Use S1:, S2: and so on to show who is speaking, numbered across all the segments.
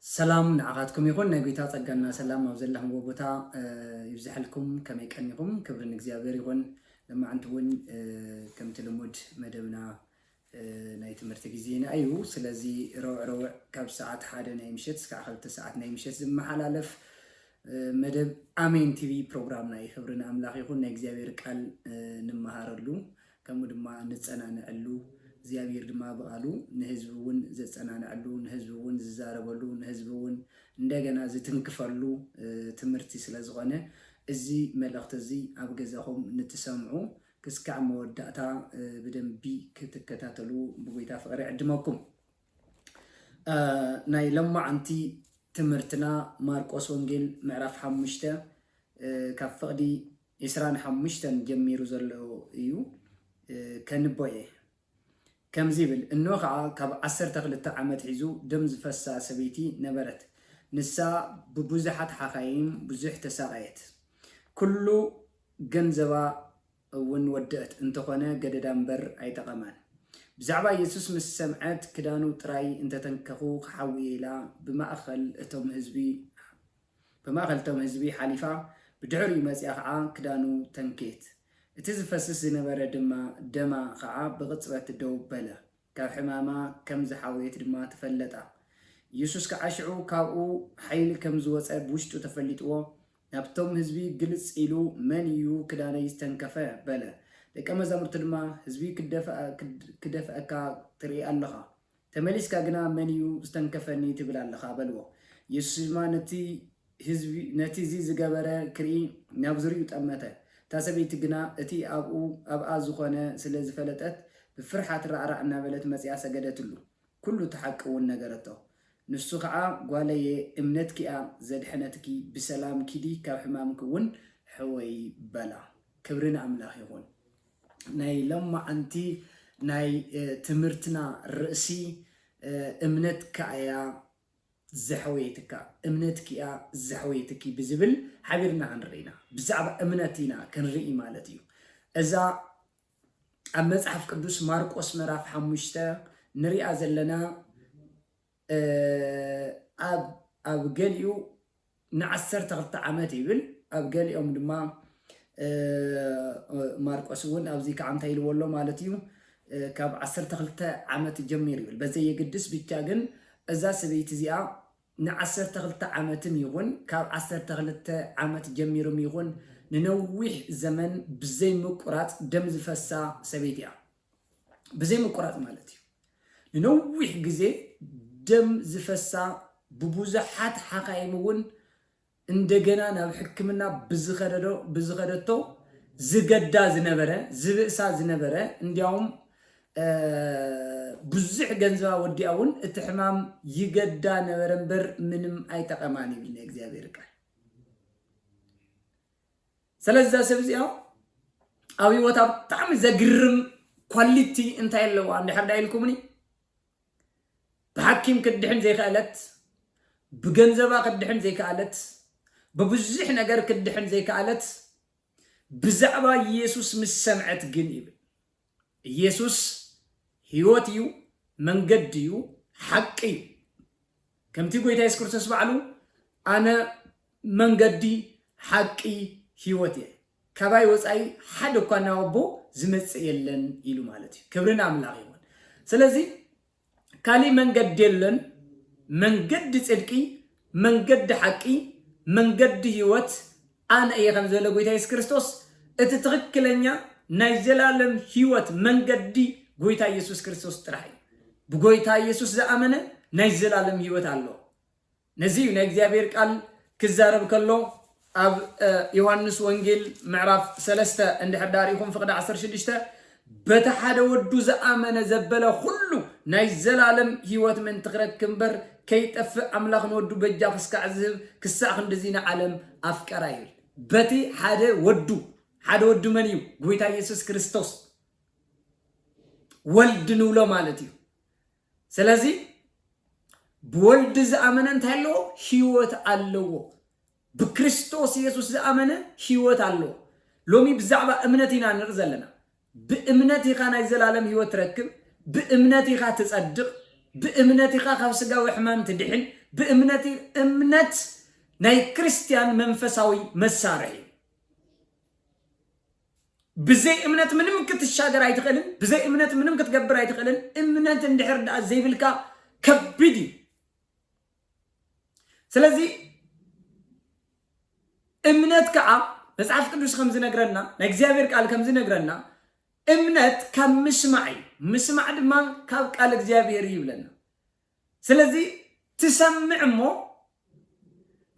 S1: ሰላም ንዓኻትኩም ይኹን ናይ ጎይታ ጸጋና ሰላም ኣብ ዘለኽምዎ ቦታ ይብዝሐልኩም ከመይ ቀኒኹም ክብሪ ንእግዚኣብሔር ይኹን ለማዕንቲ እውን ከምቲ ልሙድ መደብና ናይ ትምህርቲ ግዜና እዩ ስለዚ ረውዕ ረውዕ ካብ ሰዓት ሓደ ናይ ምሸት ስካዕ ክልተ ሰዓት ናይ ምሸት ዝመሓላለፍ መደብ ኣሜን ቲቪ ፕሮግራምና እዩ ክብሪ ንኣምላኽ ይኹን ናይ እግዚኣብሔር ቃል ንመሃረሉ ከምኡ ድማ ንጸናንዐሉ እግዚኣብሔር ድማ ብቃሉ ንህዝቢ እውን ዘጸናንዐሉ ንህዝቢ እውን ዝዛረበሉ ንህዝቢ እውን እንደገና ዝትንክፈሉ ትምህርቲ ስለዝኾነ እዚ መልእኽቲ እዚ ኣብ ገዛኹም ንትሰምዑ ክስካዕ መወዳእታ ብደንቢ ክትከታተሉ ብጎይታ ፍቅሪ ዕድመኩም። ናይ ለማዓንቲ ትምህርትና ማርቆስ ወንጌል ምዕራፍ ሓሙሽተ ካብ ፍቅዲ ዕስራን ሓሙሽተን ጀሚሩ ዘሎ እዩ ከንቦ እየ። ከምዚ ይብል፣ እኖ ኸኣ ካብ ዓሰርተ ክልተ ዓመት ሒዙ ደም ዝፈሳ ሰበይቲ ነበረት። ንሳ ብብዙሓት ሓካይም ብዙሕ ተሳቐየት። ኩሉ ገንዘባ እውን ወደእት፣ እንተኾነ ገደዳ እምበር ኣይጠቐማን። ብዛዕባ የሱስ ምስ ሰምዐት ክዳኑ ጥራይ እንተተንከኹ ክሓዊ እየ ኢላ ብማእከል እቶም ህዝቢ ብማእከል እቶም ህዝቢ ሓሊፋ ብድሕሪኡ መጺኣ ከኣ ክዳኑ ተንክየት። እቲ ዝፈስስ ዝነበረ ድማ ደማ ከኣ ብቕጽበት ደው በለ። ካብ ሕማማ ከም ዝሓወየት ድማ ተፈለጣ። ኢየሱስ ከኣ ሽዑ ካብኡ ሓይሊ ከም ዝወጸ ብውሽጡ ተፈሊጥዎ ናብቶም ህዝቢ ግልጽ ኢሉ መን እዩ ክዳነይ ዝተንከፈ? በለ። ደቀ መዛሙርቱ ድማ ህዝቢ ክደፍኣካ ትርኢ ኣለኻ ተመሊስካ ግና መን እዩ ዝተንከፈኒ ትብል ኣለኻ በልዎ። የሱስ ድማ ነቲ ህዝቢ ነቲ እዚ ዝገበረ ክርኢ ናብ ዙርይኡ ጠመተ። እታ ሰበይቲ ግና እቲ ኣብኡ ኣብኣ ዝኾነ ስለ ዝፈለጠት ብፍርሓት ራዕራዕ እናበለት መጺኣ ሰገደትሉ። ኩሉ እቲ ሓቂ እውን ነገረቶ። ንሱ ኸዓ ጓለየ እምነትኪ እያ ዘድሐነትኪ ብሰላም ኪዲ ካብ ሕማምኪ እውን ሕወዪ በላ። ክብሪ ንኣምላኽ ይኹን። ናይ ለማዓንቲ ናይ ትምህርትና ርእሲ እምነትካ እያ ዘሕወየትካ እምነትኪ እያ ዘሕወየትኪ ብዝብል ሓቢርና ክንርኢ ኢና ብዛዕባ እምነት ኢና ክንርኢ ማለት እዩ እዛ ኣብ መጽሓፍ ቅዱስ ማርቆስ ምዕራፍ ሓሙሽተ ንሪኣ ዘለና ኣብ ኣብ ገሊኡ ንዓሰርተ ክልተ ዓመት ይብል ኣብ ገሊኦም ድማ ማርቆስ እውን ኣብዚ ከዓ እንታይ ኢልዎ ኣሎ ማለት እዩ ካብ ዓሰርተ ክልተ ዓመት ጀሚሩ ይብል በዘየግድስ ብቻ ግን እዛ ሰበይቲ እዚኣ ንዓሰርተ ክልተ ዓመትም ይኹን ካብ ዓሰርተ ክልተ ዓመት ጀሚርም ይኹን ንነዊሕ ዘመን ብዘይ ምቁራፅ ደም ዝፈሳ ሰበይቲ እያ ብዘይ ምቁራፅ ማለት እዩ ንነዊሕ ግዜ ደም ዝፈሳ ብቡዙሓት ሓካይም እውን እንደገና ናብ ሕክምና ብዝኸደዶ ብዝኸደቶ ዝገዳ ዝነበረ ዝብእሳ ዝነበረ እንዲያውም ብዙሕ ገንዘባ ወዲኣ እውን እቲ ሕማም ይገዳ ነበረ እምበር ምንም ኣይጠቐማን ይብል ናይ እግዚኣብሔር ቃል ሰለዚ እዛ ሰብ እዚኣ ኣብ ህይወታ ብጣዕሚ ዘግርም ኳሊቲ እንታይ ኣለዋ እንድሕር ዳ ኢልኩምኒ ብሓኪም ክትድሕን ዘይከኣለት ብገንዘባ ክትድሕን ዘይከኣለት ብብዙሕ ነገር ክትድሕን ዘይከኣለት ብዛዕባ ኢየሱስ ምስ ሰምዐት ግን ይብል ኢየሱስ ሕይወት እዩ፣ መንገዲ እዩ፣ ሓቂ እዩ። ከምቲ ጐይታ የሱስ ክርስቶስ ባዕሉ ኣነ መንገዲ፣ ሓቂ፣ ሕይወት እየ፣ ካባይ ወፃኢ ሓደ እኳ ናብ ኣቦ ዝመጽእ የለን ኢሉ ማለት እዩ። ክብሪ ንኣምላኽ ይኹን። ስለዚ ካሊእ መንገዲ የለን መንገዲ ጽድቂ መንገዲ ሓቂ መንገዲ ህይወት ኣነ እየ ከም ዝበለ ጎይታ የሱስ ክርስቶስ እቲ ትኽክለኛ ናይ ዘላለም ህይወት መንገዲ ጎይታ የሱስ ክርስቶስ ጥራሕ እዩ ብጎይታ የሱስ ዝኣመነ ናይ ዘላለም ህይወት ኣለዎ ነዚ እዩ ናይ እግዚኣብሔር ቃል ክዛረብ ከሎ ኣብ ዮሐንስ ወንጌል ምዕራፍ ሰለስተ እንድሕር ዳር ኢኹም ፍቕዲ ዓሰርተ ሽዱሽተ በቲ ሓደ ወዱ ዝኣመነ ዘበለ ኩሉ ናይ ዘላለም ህይወት ምእንቲ ክረክብ እምበር ከይጠፍእ ኣምላኽ ንወዱ በጃ ክስካዕ ዝህብ ክሳዕ ክንድዚ ንዓለም ኣፍቀራ ይብል በቲ ሓደ ወዱ ሓደ ወዱ መን እዩ ጎይታ ኢየሱስ ክርስቶስ ወልድ ንብሎ ማለት እዩ ስለዚ ብወልድ ዝኣመነ እንታይ ኣለዎ? ህይወት ኣለዎ። ብክርስቶስ የሱስ ዝኣመነ ህይወት ኣለዎ። ሎሚ ብዛዕባ እምነት ኢና ንርኢ ዘለና። ብእምነት ኢኻ ናይ ዘላለም ህይወት ትረክብ፣ ብእምነት ኢኻ ትጸድቕ፣ ብእምነት ኢኻ ካብ ስጋዊ ሕማም ትድሕን፣ ብእምነት እምነት ናይ ክርስትያን መንፈሳዊ መሳርሒ እዩ። ብዘይ እምነት ምንም ክትሻገር ኣይትኽእልን ብዘይ እምነት ምንም ክትገብር ኣይትኽእልን እምነት እንድሕር ደኣ ዘይብልካ ከቢድ እዩ ስለዚ እምነት ከዓ መጽሓፍ ቅዱስ ከም ዝነግረና ናይ እግዚኣብሔር ቃል ከም ዝነግረና እምነት ካብ ምስማዕ እዩ ምስማዕ ድማ ካብ ቃል እግዚኣብሔር እዩ ይብለና ስለዚ ትሰምዕ እሞ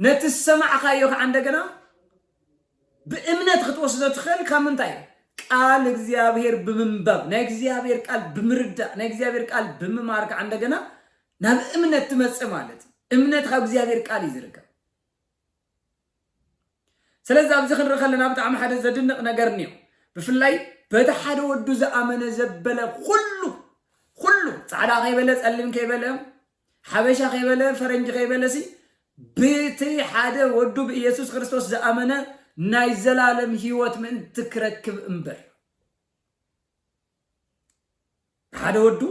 S1: ነቲ ዝሰማዕካዮ ከኣ እንደገና ብእምነት ክትወስዶ ትኽእል ካብ ምንታይ ቃል እግዚኣብሔር ብምንባብ ናይ እግዚኣብሔር ቃል ብምርዳእ ናይ እግዚኣብሔር ቃል ብምማር ከኣ እንደገና ናብ እምነት ትመጽእ ማለት እዩ እምነት ካብ እግዚኣብሔር ቃል እዩ ዝርከብ ስለዚ ኣብዚ ክንርኢ ከለና ብጣዕሚ ሓደ ዘድንቕ ነገር እኒኦ ብፍላይ በቲ ሓደ ወዱ ዝኣመነ ዘበለ ኩሉ ኩሉ ፃዕዳ ከይበለ ፀሊም ከይበለ ሓበሻ ከይበለ ፈረንጂ ከይበለ ሲ ብቲ ሓደ ወዱ ብኢየሱስ ክርስቶስ ዝኣመነ ናይ ዘላለም ህይወት ምእንቲ ክረክብ እምበር ሓደ ወዱ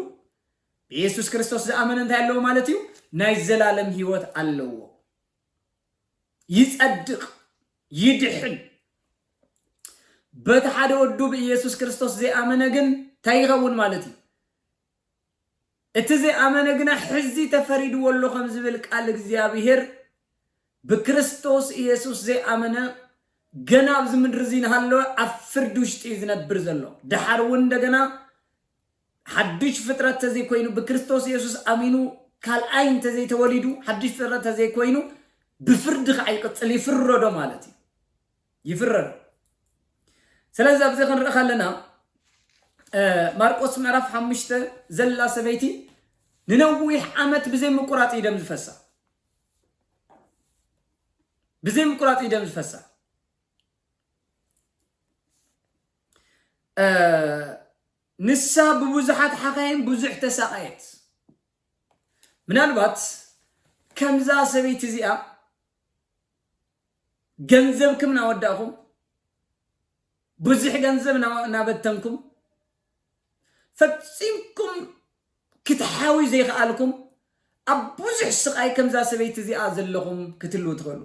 S1: ብኢየሱስ ክርስቶስ ዝኣመነ እንታይ ኣለዎ ማለት እዩ ናይ ዘላለም ህይወት ኣለዎ ይጸድቅ ይድሕን በቲ ሓደ ወዱ ብኢየሱስ ክርስቶስ ዘይኣመነ ግን እንታይ ይኸውን ማለት እዩ እቲ ዘይኣመነ ግና ሕዚ ተፈሪድዎ ኣሎ ከም ዝብል ቃል እግዚኣብሄር ብክርስቶስ ኢየሱስ ዘይኣመነ ገና ኣብዚ ምድሪ እዚ ንሃለወ ኣብ ፍርዲ ውሽጢ እዩ ዝነብር ዘሎ ደሓር እውን እንደገና ሓዱሽ ፍጥረት እንተዘይኮይኑ ብክርስቶስ የሱስ ኣሚኑ ካልኣይ እንተዘይተወሊዱ ሓዱሽ ፍጥረት እንተዘይኮይኑ ብፍርዲ ከዓ ይቅፅል ይፍረዶ ማለት እዩ ይፍረዶ ስለዚ ኣብዚ ክንርኢ ከለና ማርቆስ ምዕራፍ ሓሙሽተ ዘላ ሰበይቲ ንነዊሕ ዓመት ብዘይ ምቁራፅ እዩ ደም ዝፈሳ ብዘይ ምቁራፅ እዩ ደም ዝፈሳ ንሳ ብብዙሓት ሓካይም ብዙሕ ተሳቐየት። ምናልባት ከምዛ ሰበይቲ እዚኣ ገንዘብኩም ናወዳእኹም ብዙሕ ገንዘብ ናበተንኩም ፈፂምኩም ክትሓውዩ ዘይኸኣልኩም ኣብ ብዙሕ ስቓይ ከምዛ ሰበይቲ እዚኣ ዘለኹም ክትልዉ ትኽእሉ።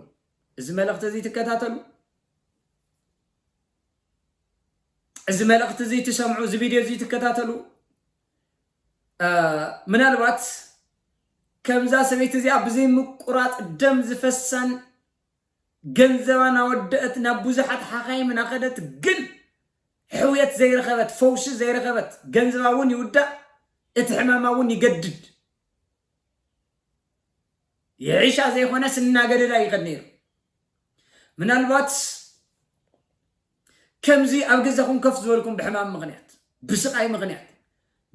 S1: እዚ መልእኽቲ እዚ ትከታተሉ፣ እዚ መልእኽቲ እዚ ትሰምዑ፣ እዚ ቪድዮ እዚ ትከታተሉ ምናልባት ከምዛ ሰበይቲ እዚኣ ብዘይምቁራፅ ደም ዝፈሳን ገንዘባ ናወደእት ናብ ቡዙሓት ሓኻይም ናኸደት ግን ሕውየት ዘይረኸበት ፈውሲ ዘይረኸበት ገንዝባ ውን ይውዳእ እት ሕማማ ውን ይገድድ ይሕሻ ዘይኾነስ እናገደዳ ይኸድ ነይሩ ምናልባትስ ከምዚ ኣብ ገዛኹም ከፍ ዝበልኩም ብሕማም ምኽንያት ብስቃይ ምኽንያት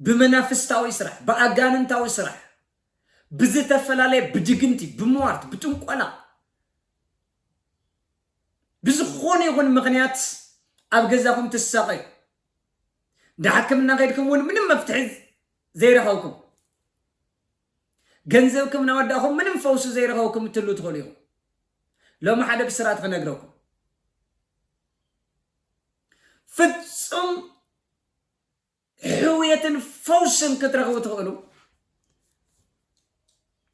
S1: ብመናፍስታዊ ስራሕ ብኣጋንንታዊ ስራሕ ብዝተፈላለየ ብድግምቲ ብሟርት ብጥንቆላ ብዝኾነ ይኹን ምኽንያት ኣብ ገዛኹም ትሳቐዩ ንሓክምና ከድኩም እውን ምንም መፍትሒ ዘይረኸብኩም ገንዘብኩም ናወዳእኹም ምንም ፈውሲ ዘይረኸብኩም እትህሉ ትኽእሉ ኢኹም ሎሚ ሓደ ብስራት ክነግረኩም ፍጹም ሕውየትን ፈውስን ክትረኽቡ ትኽእሉ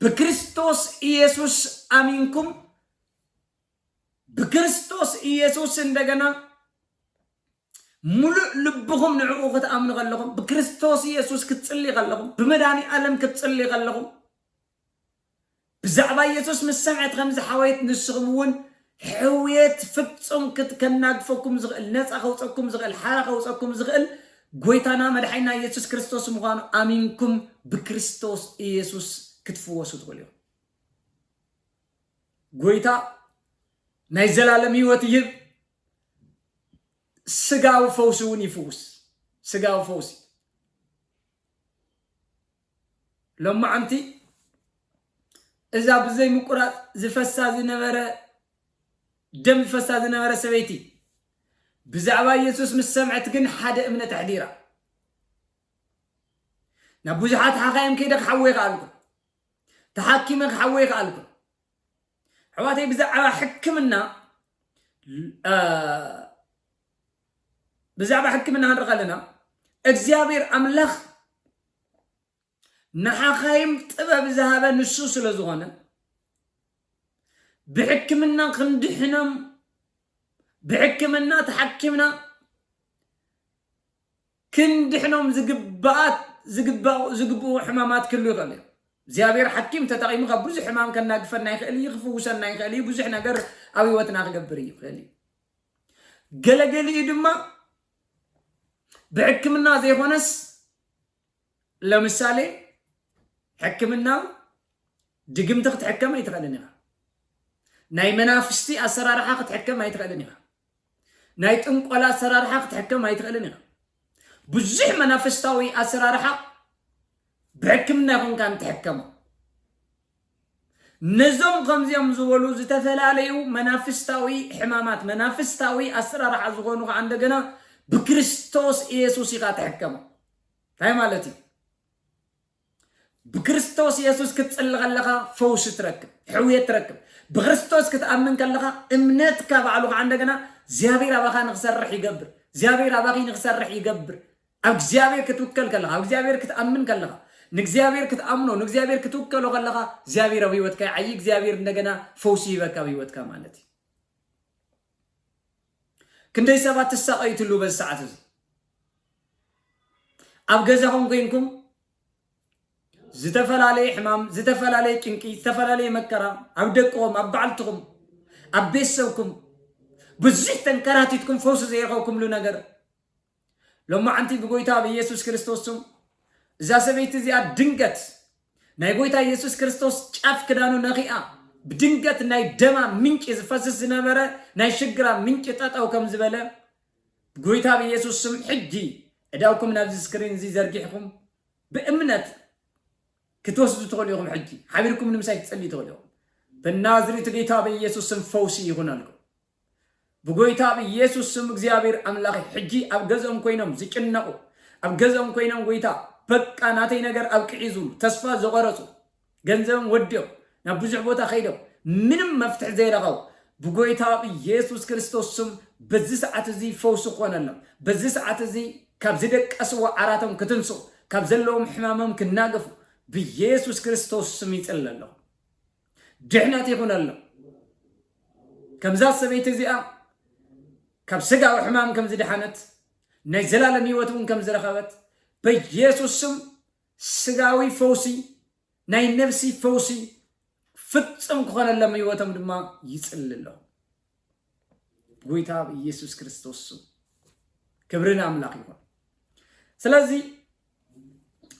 S1: ብክርስቶስ ኢየሱስ ኣሚንኩም ብክርስቶስ ኢየሱስ እንደገና ሙሉእ ልብኹም ንዕኡ ክትኣምኑ ከለኹም ብክርስቶስ ኢየሱስ ክትጽልይ ከለኹም ብመድኃኒ ዓለም ክትጽልይ ከለኹም ብዛዕባ የሱስ ምስ ሰምዐት ከምዚ ሓወየት ንስኹም እውን ሕውየት ፍጹም ክት ከናግፈኩም ዝኽእል ነጻ ከውጸኩም ዝኽእል ሓራ ከውጸኩም ዝኽእል ጎይታና መድሓኒና የሱስ ክርስቶስ ምዃኑ ኣሚንኩም ብክርስቶስ ኢየሱስ ክትፍወሱ ትኽእሉ ኢኹም። ጎይታ ናይ ዘላለም ህይወት ይህብ ስጋዊ ፈውሲ እውን ይፍውስ ስጋዊ ፈውሲ ሎማዕንቲ እዛ ብዘይ ምቁራጽ ዝፈሳ ዝነበረ ደም ዝፈሳ ዝነበረ ሰበይቲ ብዛዕባ የሱስ ምስ ሰምዐት ግን ሓደ እምነት ኣሕዲራ ናብ ብዙሓት ሓኻይም ከይደ ክሓወይ ከኣልኩ ተሓኪመ ክሓወይ ከኣልኩ ኣሕዋተይ ብዛዕባ ሕክምና ብዛዕባ ሕክምና ክንርኢ ከለና እግዚኣብሔር ኣምላኽ ንሓኻይም ጥበብ ዝሃበ ንሱ ስለ ዝኾነ ብሕክምና ክንድሕኖም ብሕክምና ተሓኪምና ክንድሕኖም ዝግብኣት ዝግብኡ ሕማማት ክህሉ ይኽእል እዩ እግዚኣብሔር ሓኪም ተጠቂሙ ካብ ብዙሕ ሕማም ከናግፈና ይኽእል እዩ ክፍውሰና ይኽእል እዩ ብዙሕ ነገር ኣብ ህይወትና ክገብር ይኽእል እዩ ገለ ገሊኡ ድማ ብሕክምና ዘይኾነስ ለምሳሌ ሕክምና ድግምቲ ክትሕከም ኣይትኽእልን ኢኻ። ናይ መናፍስቲ ኣሰራርሓ ክትሕከም ኣይትኽእልን ኢኻ። ናይ ጥንቆላ ኣሰራርሓ ክትሕከም ኣይትኽእልን ኢኻ። ብዙሕ መናፍስታዊ ኣሰራርሓ ብሕክምና ይኹንካ እንትሕከሞ ነዞም ከምዚኦም ዝበሉ ዝተፈላለዩ መናፍስታዊ ሕማማት፣ መናፍስታዊ ኣስራርሓ ዝኾኑ ከኣ እንደገና ብክርስቶስ ኢየሱስ ኢኻ ትሕከም። እንታይ ማለት እዩ? ብክርስቶስ ኢየሱስ ክትጽሊ ከለኻ ፈውሲ ትረክብ፣ ሕውየት ትረክብ። ብክርስቶስ ክትኣምን ከለኻ እምነትካ ባዕሉ ከኣ እንደገና እግዚኣብሔር ኣባኻ ንክሰርሕ ይገብር፣ እግዚኣብሔር ኣባኺ ንክሰርሕ ይገብር። ኣብ እግዚኣብሔር ክትውከል ከለኻ፣ ኣብ እግዚኣብሔር ክትኣምን ከለኻ፣ ንእግዚኣብሔር ክትኣምኖ፣ ንእግዚኣብሔር ክትውከሎ ከለኻ፣ እግዚኣብሔር ኣብ ህይወትካ ይዓይ፣ እግዚኣብሔር እንደገና ፈውሲ ይህበካ ኣብ ህይወትካ ማለት እዩ። ክንደይ ሰባት ትሳቐዩ ትሉ በዚ ሰዓት እዚ ኣብ ገዛኹም ኮይንኩም ዝተፈላለየ ሕማም፣ ዝተፈላለየ ጭንቂ፣ ዝተፈላለየ መከራ ኣብ ደቅኹም፣ ኣብ በዓልትኹም፣ ኣብ ቤተሰብኩም ብዙሕ ተንከራቲትኩም ፈውሲ ዘይረኸብኩምሉ ነገር ሎማዓንቲ ብጎይታ ብኢየሱስ ክርስቶስ ስም እዛ ሰበይቲ እዚኣ ድንገት ናይ ጎይታ ኢየሱስ ክርስቶስ ጫፍ ክዳኑ ነኺኣ ብድንገት ናይ ደማ ምንጪ ዝፈስስ ዝነበረ ናይ ሽግራ ምንጪ ጠጠው ከም ዝበለ ጎይታ ብኢየሱስ ስም ሕጂ እዳውኩም ናብዚ ስክሪን እዚ ዘርጊሕኩም ብእምነት ክትወስዱ ትኽእሉ ኢኹም። ሕጂ ሓቢርኩም ንምሳይ ክትጸልዩ ትኽእሉ ኢኹም። በናዝሬቱ ጌታ በኢየሱስ ስም ፈውሲ ይኹነልኩም። ብጎይታ ብኢየሱስ ስም እግዚኣብሔር ኣምላኸይ ሕጂ ኣብ ገዝኦም ኮይኖም ዝጭነቁ ኣብ ገዝኦም ኮይኖም ጎይታ በቃ ናተይ ነገር ኣብቅዒ ዝብሉ ተስፋ ዝቆረጹ ገንዘብም ወዲኦም ናብ ብዙሕ ቦታ ከይዶም ምንም መፍትሒ ዘይረኸቡ ብጎይታ ብኢየሱስ ክርስቶስ ስም በዚ ሰዓት እዚ ፈውሲ ክኾነሎም በዚ ሰዓት እዚ ካብ ዝደቀስዎ ዓራቶም ክትንስኡ ካብ ዘለዎም ሕማሞም ክናገፉ ብኢየሱስ ክርስቶስ ስም ይጽለ ኣለኹ ድሕነት ይኹነሎም። ከምዛ ሰበይቲ እዚኣ ካብ ስጋዊ ሕማም ከም ዝደሓነት ናይ ዘላለም ህይወት እውን ከም ዝረኸበት በኢየሱስ ስም ስጋዊ ፈውሲ ናይ ነፍሲ ፈውሲ ፍጹም ክኾነሎም ህይወቶም ድማ ይጽሊ ኣለኹ ጎይታ ብኢየሱስ ክርስቶስ ስም ክብሪ ንኣምላኽ ይኹን ስለዚ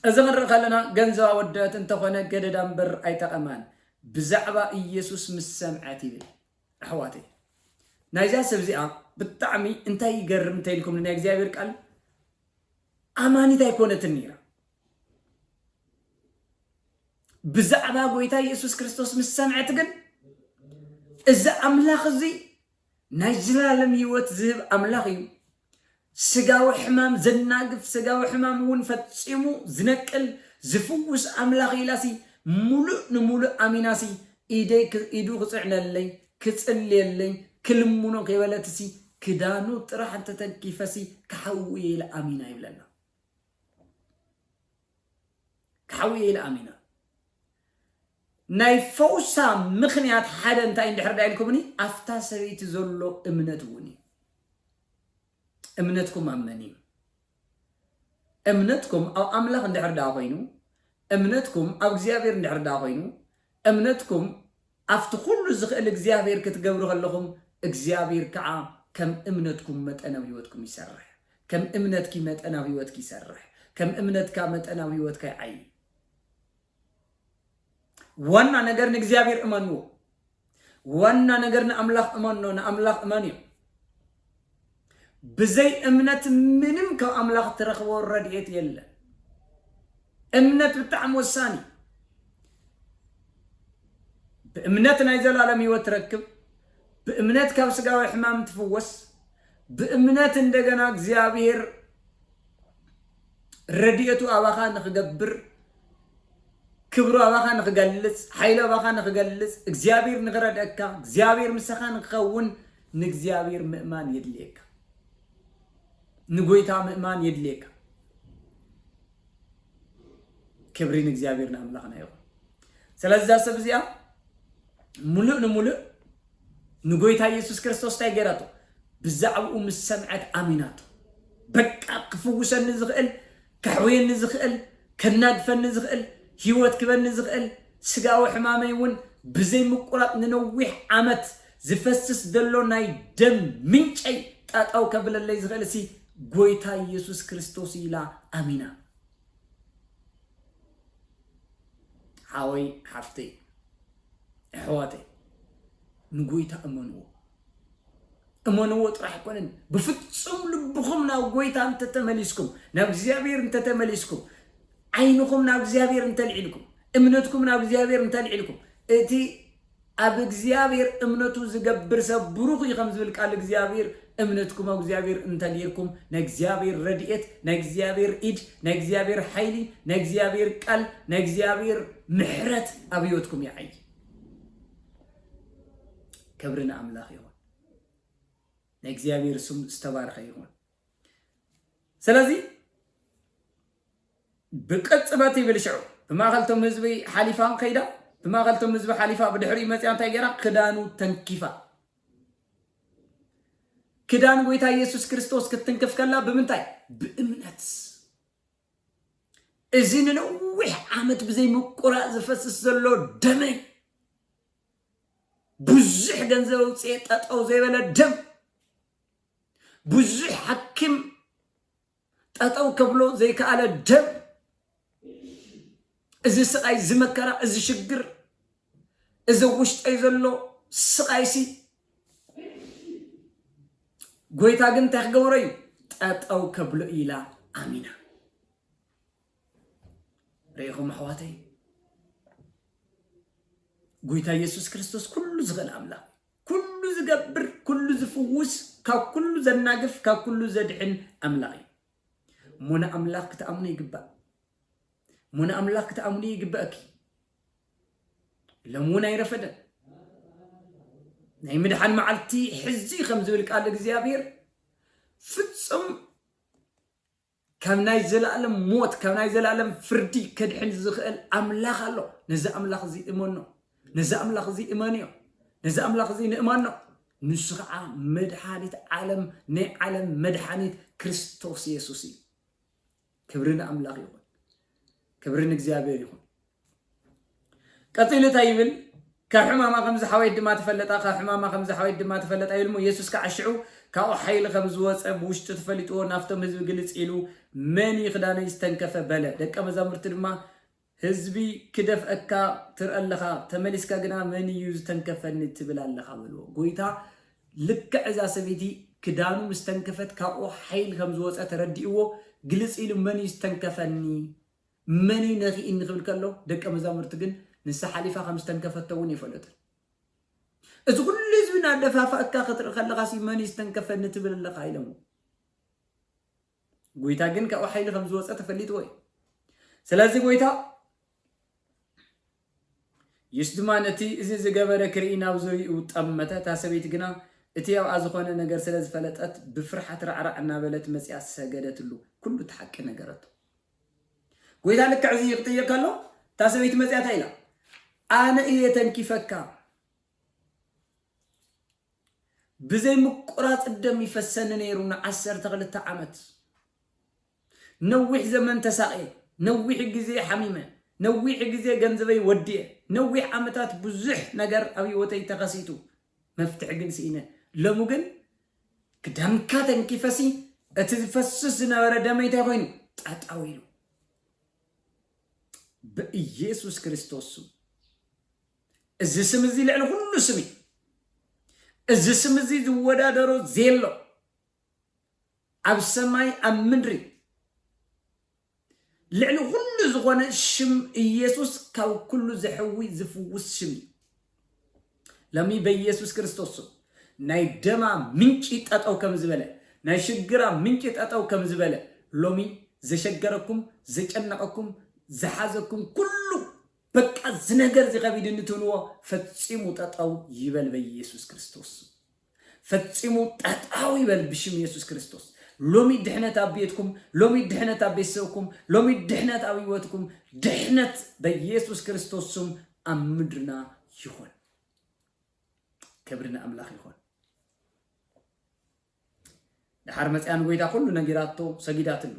S1: እዚ ክንርኢ ከለና ገንዘብ ኣወደበት እንተኾነ ገደዳ እምበር ኣይጠቐማን ብዛዕባ ኢየሱስ ምስ ሰምዐት ይብል ኣሕዋተይ ናይዛ ሰብ እዚኣ ብጣዕሚ እንታይ ይገርም እንታይ ኢልኩም ናይ እግዚኣብሔር ቃል ኣማኒት ኣይኮነትን ነይራ ብዛዕባ ጎይታ ኢየሱስ ክርስቶስ ምስ ሰምዐት ግን እዚ ኣምላኽ እዚ ናይ ዝላለም ህይወት ዝህብ ኣምላኽ እዩ። ስጋዊ ሕማም ዘናግፍ ስጋዊ ሕማም እውን ፈጺሙ ዝነቅል ዝፍውስ ኣምላኽ ኢላሲ ምሉእ ንምሉእ ኣሚናሲ ኢደይ ኢዱ ክጽዕነለይ ክጽልየለይ ክልምኖ ከይበለትሲ ክዳኑ ጥራሕ እንተተንኪፈሲ ክሓዊ እየ ኢለ ኣሚና ይብለና። ክሓዊ እየ ኢለ ኣሚነ። ናይ ፈውሳ ምኽንያት ሓደ እንታይ እንድሕር ዳ ኢልኩምኒ ኣፍታ ሰበይቲ ዘሎ እምነት እውን እዩ። እምነትኩም ኣብ መን እዩ? እምነትኩም ኣብ ኣምላኽ እንድሕር ዳ ኮይኑ እምነትኩም ኣብ እግዚኣብሔር እንድሕር ዳ ኮይኑ እምነትኩም ኣብቲ ኩሉ ዝኽእል እግዚኣብሔር ክትገብሩ ከለኹም እግዚኣብሔር ከኣ ከም እምነትኩም መጠን ኣብ ሕይወትኩም ይሰርሕ ከም እምነትኪ መጠን ኣብ ሕይወትኪ ይሰርሕ ከም እምነትካ መጠን ኣብ ሕይወትካ ይዓይ ዋና ነገር ንእግዚኣብሔር እመንዎ ዋና ነገር ንኣምላኽ እመኖ ንኣምላኽ እመንዮ ብዘይ እምነት ምንም ካብ ኣምላኽ ትረኽቦ ረድኤት የለን። እምነት ብጣዕሚ ወሳኒ እዩ። ብእምነት ናይ ዘላለም ህይወት ትረክብ፣ ብእምነት ካብ ስጋዊ ሕማም ትፍወስ፣ ብእምነት እንደገና እግዚኣብሔር ረድኤቱ ኣባኻ ንኽገብር፣ ክብሩ ኣባኻ ንኽገልጽ፣ ሓይሉ ኣባኻ ንኽገልጽ፣ እግዚኣብሔር ንኽረድኣካ፣ እግዚኣብሔር ምሳኻ ንክኸውን ንእግዚኣብሔር ምእማን የድልየካ። ንጎይታ ምእማን የድልየካ። ክብሪ ንእግዚኣብሔር ንኣምላኽና ይኹን። ስለዚ እዛ ሰብ እዚኣ ምሉእ ንምሉእ ንጎይታ የሱስ ክርስቶስ ታይ ገይራቶ ብዛዕብኡ ምስ ሰምዐት ኣሚናቶ በቃ ክፍውሰኒ ዝኽእል ከሕውየኒ ዝኽእል ከናግፈኒ ዝኽእል ሂወት ክበኒ ዝኽእል ስጋዊ ሕማመይ ውን ብዘይ ምቁራጽ ንነዊሕ ዓመት ዝፈስስ ዘሎ ናይ ደም ምንጨይ ጠጠው ከብለለይ ዝኽእል ሲ ጎይታ የሱስ ክርስቶስ እዩ ኢላ ኣሚና ሓወይ ሓፍተይ ኣሕዋተይ ንጎይታ እመንዎ እመንዎ ጥራሕ ኣይኮነን ብፍጹም ልብኹም ናብ ጎይታ እንተተመሊስኩም ናብ እግዚኣብሔር እንተተመሊስኩም ዓይንኹም ናብ እግዚኣብሔር እንተልዒልኩም እምነትኩም ናብ እግዚኣብሔር እንተልዒልኩም እቲ ኣብ እግዚኣብሔር እምነቱ ዝገብር ሰብ ብሩኽ እዩ ከም ዝብል ቃል እግዚኣብሔር እምነትኩም ኣብ እግዚኣብሔር እንተ ጌርኩም ናይ እግዚኣብሔር ረድኤት ናይ እግዚኣብሔር ኢድ ናይ እግዚኣብሔር ሓይሊ ናይ እግዚኣብሔር ቃል ናይ እግዚኣብሔር ምሕረት ኣብ ህይወትኩም ይዓይ ክብሪ ንኣምላኽ ይኹን ናይ እግዚኣብሔር ስም ዝተባረኸ ይኹን ስለዚ ብቅጽበት ይብል ሽዑ ብማእኸልቶም ህዝቢ ሓሊፋ ከይዳ ብማእኸልቶም ህዝቢ ሓሊፋ ብድሕሪ መፅያ እንታይ ገይራ ክዳኑ ተንኪፋ ክዳን ጎይታ ኢየሱስ ክርስቶስ ክትትንክፍ ከላ ብምንታይ? ብእምነት። እዚ ንነዊሕ ዓመት ብዘይ ምቁራጽ ዝፈስስ ዘሎ ደመይ ብዙሕ ገንዘብ ኣውፅኤ ጠጠው ዘይበለ ደም ብዙሕ ሓኪም ጠጠው ከብሎ ዘይከኣለ ደም እዚ ስቓይ እዚ መከራ እዚ ሽግር እዚ ውሽጠይ ዘሎ ስቓይሲ ጎይታ ግን እንታይ ክገብሮ እዩ ጠጠው ከብሎ ኢላ ኣሚና ርኢኹም ኣሕዋተይ ጎይታ ኢየሱስ ክርስቶስ ኩሉ ዝኽእል ኣምላኽ ኩሉ ዝገብር ኩሉ ዝፍውስ ካብ ኩሉ ዘናግፍ ካብ ኩሉ ዘድሕን ኣምላኽ እዩ እሞ ንኣምላኽ ክትኣምኑ ይግባእ እሞ ንኣምላኽ ክትኣምኑ ይግበእኪ ሎም እውን ኣይረፈደን ናይ ምድሓን መዓልቲ ሕዚ ከም ዝብል ቃል እግዚኣብሔር ፍጹም ካብ ናይ ዘለኣለም ሞት፣ ካብ ናይ ዘለኣለም ፍርዲ ከድሕን ዝኽእል ኣምላኽ ኣሎ። ነዚ ኣምላኽ እዚ እመኖ። ነዚ ኣምላኽ እዚ እመንዮ። ነዚ ኣምላኽ እዚ ንእመኖ። ንሱ ከዓ መድሓኒት ዓለም፣ ናይ ዓለም መድሓኒት ክርስቶስ የሱስ እዩ። ክብሪ ንኣምላኽ ይኹን። ክብሪ ንእግዚኣብሔር ይኹን። ቀጺሉ እንታይ ይብል? ካብ ሕማማ ከም ዝሓወየት ድማ ተፈለጣ፣ ካብ ሕማማ ከም ዝሓወየት ድማ ተፈለጣ ይብል እሞ፣ የሱስ ከኣ ሽዑ ካብኡ ሓይሊ ከም ዝወጸ ብውሽጡ ተፈሊጥዎ ናብቶም ህዝቢ ግልጽ ኢሉ፣ መን እዩ ክዳነይ ዝተንከፈ? በለ። ደቀ መዛሙርቱ ድማ፣ ህዝቢ ክደፍእካ ትርኢ ኣለኻ፣ ተመሊስካ ግና መን እዩ ዝተንከፈኒ ትብል ኣለኻ? በልዎ። ጐይታ ልክዕ እዛ ሰበይቲ ክዳኑ ምስ ተንከፈት ካብኡ ሓይሊ ከም ዝወጸ ተረዲእዎ ግልጽ ኢሉ መን እዩ ዝተንከፈኒ? መን'ዩ ነኪእኒ ክብል ከሎ፣ ደቀ መዛሙርቱ ግን ንሳ ሓሊፋ ከም ዝተንከፈቶ እውን ኣይፈለጡን። እዚ ኩሉ ህዝቢ እናደፋፋእካ ክትርኢ ከለኻሲ መን'ዩ ዝተንከፈኒ ትብል ኣለኻ ኢሎምዎ። ጎይታ ግን ካብኡ ሓይሊ ከም ዝወፀ ተፈሊጥዎ እዩ። ስለዚ ጎይታ ኢየሱስ ድማ ነቲ እዚ ዝገበረ ክርኢ ናብ ዙርይኡ ጠመተ። እታ ሰበይቲ ግና እቲ ኣብኣ ዝኾነ ነገር ስለ ዝፈለጠት ብፍርሓት ራዕራዕ እናበለት መጺኣ ሰገደትሉ፣ ኩሉ እቲ ሓቂ ነገረቶ። ጎይታ ልክዕ እዚ ክጥይቕ ከሎ እታ ሰበይቲ መፅያ እንታይ ኢላ ኣነ እየ ተንኪፈካ ብዘይ ምቁራፅ ደም ይፈሰኒ ነይሩ ንዓሰርተ ክልተ ዓመት ነዊሕ ዘመን ተሳቕየ ነዊሕ ግዜ ሓሚመ ነዊሕ ግዜ ገንዘበይ ወዲየ ነዊሕ ዓመታት ብዙሕ ነገር ኣብ ህይወተይ ተኸሲቱ መፍትሒ ግን ስኢነ ሎሚ ግን ክደምካ ተንኪፈሲ እቲ ዝፈስስ ዝነበረ ደመይ እንታይ ኮይኑ ጠጠው ኢሉ ብኢየሱስ ክርስቶስ ስም እዚ ስም እዚ ልዕሊ ኩሉ ስም እዩ እዚ ስም እዚ ዝወዳደሮ ዘየሎ ኣብ ሰማይ ኣብ ምድሪ ልዕሊ ኹሉ ዝኾነ ሽም ኢየሱስ ካብ ኩሉ ዘሕዊ ዝፍውስ ሽም እዩ። ለሚ በኢየሱስ ክርስቶስ ስም ናይ ደማ ምንጪ ጠጠው ከም ዝበለ ናይ ሽግራ ምንጪ ጠጠው ከም ዝበለ ሎሚ ዘሸገረኩም ዘጨነቐኩም ዝሓዘኩም ኩሉ በቃ እዚ ነገር እዚ ከቢድኒ ትብልዎ ፈጺሙ ጠጠው ይበል በኢየሱስ ክርስቶስ ስም። ፈጺሙ ጠጣው ይበል ብሽም የሱስ ክርስቶስ። ሎሚ ድሕነት ኣብ ቤትኩም፣ ሎሚ ድሕነት ኣብ ቤተሰብኩም፣ ሎሚ ድሕነት ኣብ ህይወትኩም፣ ድሕነት በየሱስ ክርስቶስ ስም ኣብ ምድርና ይኹን። ክብሪ ንኣምላኽ ይኹን። ድሓር መፅያ ንጎይታ ኩሉ ነጊራቶ ሰጊዳትሉ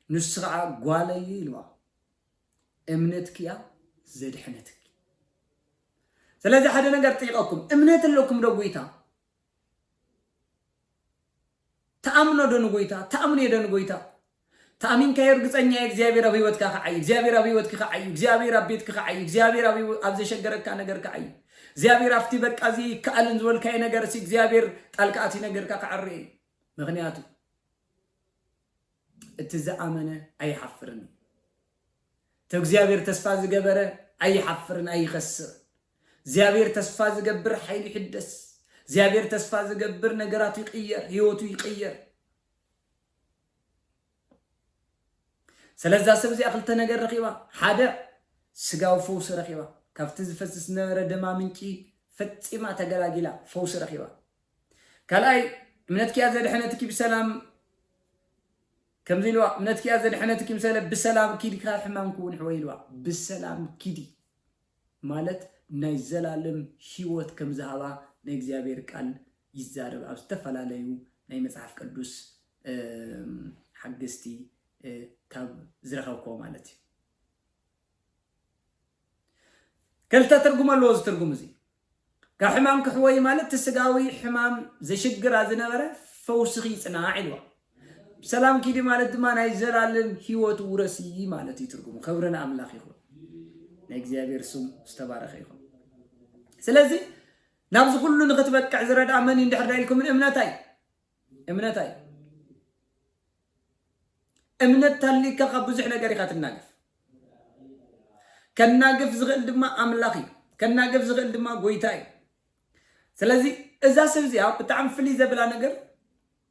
S1: ንሱ ከዓ ጓለይ ኢልዋ እምነትኪ እያ ዘድሐነትኪ ስለዚ ሓደ ነገር ጠይቀኩም እምነት ኣለኩም ዶ ጎይታ ተኣምኖ ዶ ንጎይታ ተኣምኖ ዶ ንጎይታ ተኣሚንካ እርግፀኛ እየ እግዚኣብሔር ኣብ ህይወትካ ክዓይ እግዚኣብሔር ኣብ ህይወትኪ ክዓይ እግዚኣብሔር ኣብ ቤትኪ ክዓይ እግዚኣብሔር ኣብ ዘሸገረካ ነገር ክዓይ እግዚኣብሔር ኣብቲ በቃ እዚ ይከኣልን ዝበልካዮ ነገር ሲ እግዚኣብሔር ጣልቃ እቲ ነገርካ ክዓሪ እዩ ምክንያቱ እቲ ዝኣመነ ኣይሓፍርን እዩ። እቲ እግዚኣብሔር ተስፋ ዝገበረ ኣይሓፍርን ኣይኸስርን። እግዚኣብሔር ተስፋ ዝገብር ሓይሉ ይሕደስ። እግዚኣብሔር ተስፋ ዝገብር ነገራቱ ይቅየር፣ ህይወቱ ይቅየር። ስለዛ ሰብ እዚኣ ክልተ ነገር ረኺባ። ሓደ ስጋዊ ፈውሲ ረኺባ። ካብቲ ዝፈስስ ዝነበረ ደማ ምንጪ ፈፂማ ተገላጊላ ፈውሲ ረኺባ። ካልኣይ እምነትኪ እያ ዘድሐነትኪ ብሰላም ከምዚ ኢልዋ እምነትኪ እያ ዘድሐነትኪ ምስ በለ ብሰላም ኪዲ ካብ ሕማም ክውንሕወ ኢልዋ ብሰላም ኪዲ ማለት ናይ ዘላለም ህይወት ከም ዝሃባ ናይ እግዚኣብሔር ቃል ይዛረብ ኣብ ዝተፈላለዩ ናይ መጽሓፍ ቅዱስ እም፣ ሓገዝቲ እ፣ ካብ ዝረኸብኮ ማለት እዩ ክልተ ትርጉም ኣለዎ እዚ ትርጉም እዚ ካብ ሕማም ክሕወዩ ማለት እቲ ስጋዊ ሕማም ዘሽግራ ዝነበረ ፈውስኺ ይጽናዕ ኢልዋ። ብሰላም ኪዲ ማለት ድማ ናይ ዘላለም ህይወት ውረሲ ማለት እዩ ትርጉሙ። ክብሪ ንኣምላኽ ይኹን። ናይ እግዚኣብሔር ስም ዝተባረኸ ይኹን። ስለዚ ናብዚ ኩሉ ንክትበቅዕ ዝረድኣ መን እዩ እንድሕር ዳ ኢልኩምን እምነታ እዩ እምነታ እዩ። እምነት ታሊካ ካብ ብዙሕ ነገር ኢካ ትናገፍ ከናግፍ ዝክእል ድማ ኣምላኽ እዩ ከናግፍ ዝክእል ድማ ጎይታ እዩ ስለዚ እዛ ሰብ እዚኣ ብጣዕሚ ፍልይ ዘብላ ነገር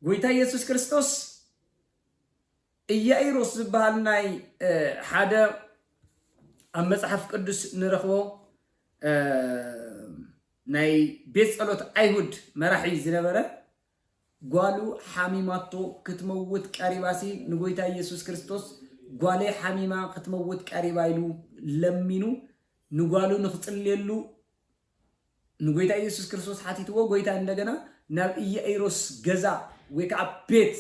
S1: ጎይታ ኢየሱስ ክርስቶስ ኢያኢሮስ ዝበሃል ናይ ሓደ ኣብ መጽሓፍ ቅዱስ ንረኽቦ ናይ ቤት ጸሎት ኣይሁድ መራሒ ዝነበረ ጓሉ ሓሚማቶ ክትመውት ቀሪባሲ ንጎይታ ኢየሱስ ክርስቶስ ጓለይ ሓሚማ ክትመውት ቀሪባ ኢሉ ለሚኑ ንጓሉ ንክጽልየሉ ንጎይታ ኢየሱስ ክርስቶስ ሓቲትዎ ጎይታ እንደገና ናብ ኢያኢሮስ ገዛ ወይ ከዓ ቤት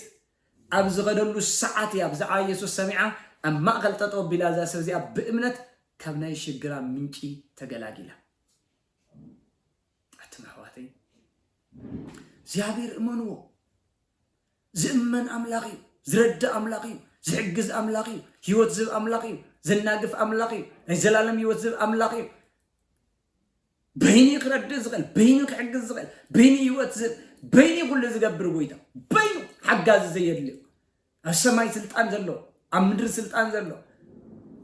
S1: ኣብ ዝኸደሉ ሰዓት እያ ብዛዕባ ኢየሱስ ሰሚዓ ኣብ ማእኸል ጠጠው ኣቢላ እዛ ሰብ እዚኣ ብእምነት ካብ ናይ ሽግራ ምንጪ ተገላጊላ ኣቱም ኣሕዋተይ እግዚኣብሔር እመንዎ። ዝእመን ኣምላኽ እዩ። ዝረድእ ኣምላኽ እዩ። ዝሕግዝ ኣምላኽ እዩ። ህይወት ዝህብ ኣምላኽ እዩ። ዘናግፍ ኣምላኽ እዩ። ናይ ዘላለም ህይወት ዝህብ ኣምላኽ እዩ። በይኒ ክረድእ ዝኽእል በይኒ ክሕግዝ ዝኽእል በይኒ ህይወት ዝህብ በይኒ ኩሉ ዝገብር ጎይታ በይኑ ሓጋዚ ዘየድልዮ ኣብ ሰማይ ስልጣን ዘሎ ኣብ ምድሪ ስልጣን ዘሎ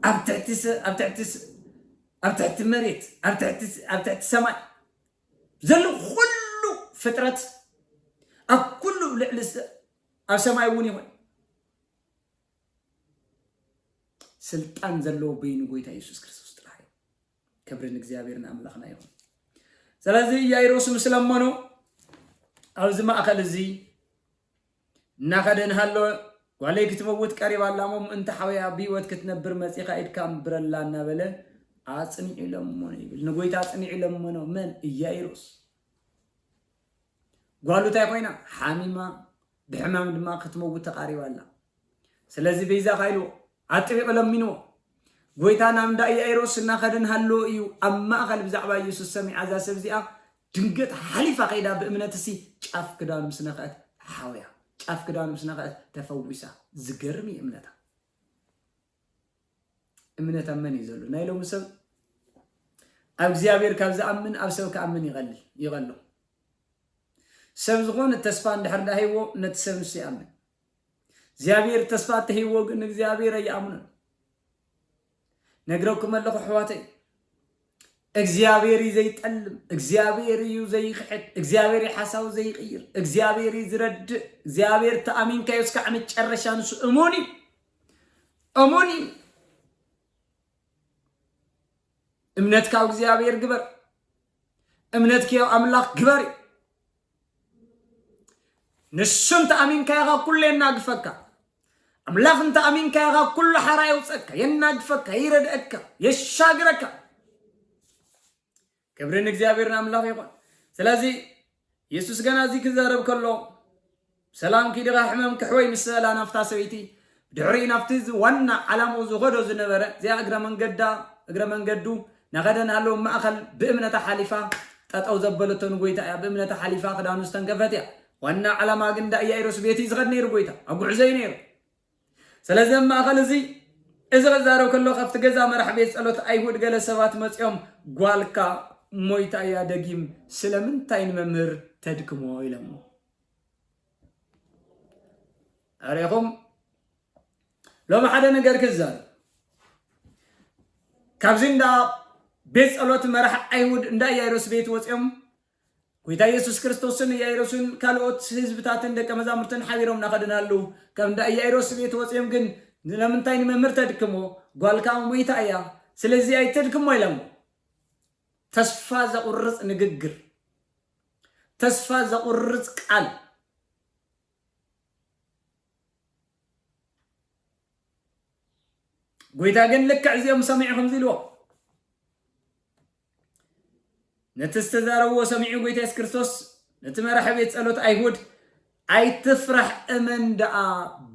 S1: ኣብ ትሕቲ ሰ- ኣብ ትሕቲ ሰ- ኣብ ትሕቲ መሬት ኣብ ትሕቲ ሰ- ኣብ ትሕቲ ሰማይ ዘሎ ኩሉ ፍጥረት ኣብ ኩሉ ልዕሊ ሰ- ኣብ ሰማይ እውን ይኹን ስልጣን ዘለዎ በይኑ ጎይታ ኢየሱስ ክርስቶስ ጥራሕ እዩ። ክብሪ ንእግዚኣብሔር ንኣምላኽና ይኹን ስለዚ ያይሮስ ምስ ለመኖ ኣብዚ ማእኸል እዚ እናኸደ እናሃለወ ጓለይ ክትመውት ቀሪባ ኣላ እሞ ምእንቲ ሓወያ ብሂወት ክትነብር መፂኻ ኢድካ ንብረላ እናበለ ኣፅኒዑ ለመኖ ይብል ንጎይታ ኣፅኒዑ ለመኖ መን እያይሮስ ጓሉ እንታይ ኮይና ሓሚማ ብሕማም ድማ ክትመውት ተቓሪባ ኣላ። ስለዚ በይዛኻ ኢልዎ፣ ኣጥቢቑ ለሚንዎ። ጐይታ ናብ እንዳ ኢያኢሮስ እናኸደ እናሃለወ እዩ ኣብ ማእኸል ብዛዕባ ኢየሱስ ሰሚዓ እዛ ሰብ እዚኣ ድንገት ሓሊፋ ከይዳ ብእምነትሲ ጫፍ ክዳኑ ምስ ነኽአት ሓውያ ጫፍ ክዳኑ ምስ ነኽአት ተፈዊሳ። ዝገርም እዩ እምነታ። እምነት ኣብ መን እዩ ዘሎ? ናይ ሎሚ ሰብ ኣብ እግዚኣብሔር ካብ ዝኣምን ኣብ ሰብ ክኣምን ይቐልል ይቐሎ ሰብ ዝኾነ ተስፋ እንድሕር ዳ ሂቦ ነቲ ሰብ ንሱ ይኣምን እግዚኣብሔር ተስፋ እተሂቦ ግን እግዚኣብሔር ኣይኣምኑን ነግረኩም ኣለኹ ኣሕዋተይ እግዚኣብሔር እዩ ዘይጠልም እግዚኣብሔር እዩ ዘይክሕድ እግዚኣብሔር እዩ ሓሳቡ ዘይቅይር እግዚኣብሔር እዩ ዝረድእ እግዚኣብሔር ተኣሚንካዮ እስካዕ መጨረሻ ንሱ እሙን እዩ እሙን እዩ። እምነት ካብ እግዚኣብሔር ግበር፣ እምነት ከዮ ኣምላኽ ግበር እዩ። ንሱ እንተኣሚንካዮ ካብ ኩሉ የናግፈካ። ኣምላኽ እንተኣሚንካዮ ካብ ኩሉ ሓራ የውፀካ፣ የናግፈካ፣ ይረድአካ፣ የሻግረካ። ክብሪ ንእግዚኣብሔር ንኣምላኽ ይኹን ስለዚ የሱስ ገና እዚ ክዛረብ ከሎ ሰላም ኪድኻ ሕመም ክሕወይ ምስ በላ ናፍታ ሰበይቲ ድሕሪ ናብቲ ዋና ዓላምኡ ዝኸዶ ዝነበረ እዚኣ እግረ መንገዳ እግረ መንገዱ ናኸደ ናሃለወ ማእኸል ብእምነታ ሓሊፋ ጠጠው ዘበለቶ ንጎይታ እያ ብእምነታ ሓሊፋ ክዳኑ ዝተንከፈት እያ ዋና ዓላማ ግን ዳእያይሮስ ቤት እዩ ዝኸድ ነይሩ ጎይታ ኣብ ጉዕዞ እዩ ነይሩ ስለዚ ኣብ ማእከል እዚ እዚ ክዛረብ ከሎ ካብቲ ገዛ መራሕ ቤት ጸሎት ኣይሁድ ገለ ሰባት መጺኦም ጓልካ ሞይታ እያ ደጊም ስለምንታይ ንመምህር ተድክሞ ኢሎሞ ኣሪኹም ሎሚ ሓደ ነገር ክዛረብ ካብዚ እንዳ ቤት ጸሎት መራሕ ኣይሁድ እንዳ ኢያይሮስ ቤት ወጺኦም ጐይታ ኢየሱስ ክርስቶስን ኢያኢሮስን ካልኦት ህዝብታትን ደቀ መዛሙርትን ሓቢሮም እናኸዱናሉ ካብ እንዳ ኢያኢሮስ ቤት ወጺኦም ግን ስለምንታይ ንመምህር ተድክሞ ጓልካ ሞይታ እያ ስለዚ ኣይተድክሞ ኢሎሞ። ተስፋ ዘቑርጽ ንግግር። ተስፋ ዘቑርጽ ቃል። ጐይታ ግን ልክዕ እዚኦም ሰሚዑ ከምዚ ኢልዎም ነቲ ዝተዛረብዎ ሰሚዑ ጎይታ የሱስ ክርስቶስ ነቲ መራሒ ቤት ጸሎት ኣይሁድ ኣይትፍራሕ እመን ደኣ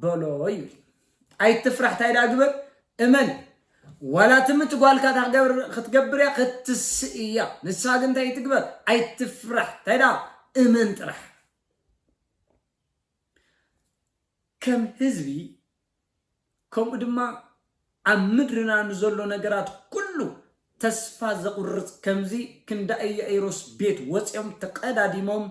S1: በሎ እዩ ኣይትፍራሕ እንታይ ደኣ ግበር እመን ዋላ ትምት ጓልካ ክትገብር እያ ክትስእ እያ ንሳ ግን እንታይ ትግበር ኣይትፍራሕ እንታይ ደኣ እመን ጥራሕ ከም ህዝቢ ከምኡ ድማ ኣብ ምድርና ንዘሎ ነገራት ኩሉ ተስፋ ዘቁርጽ ከምዚ ክንዳ እያኢሮስ ቤት ወጽዮም ተቀዳዲሞም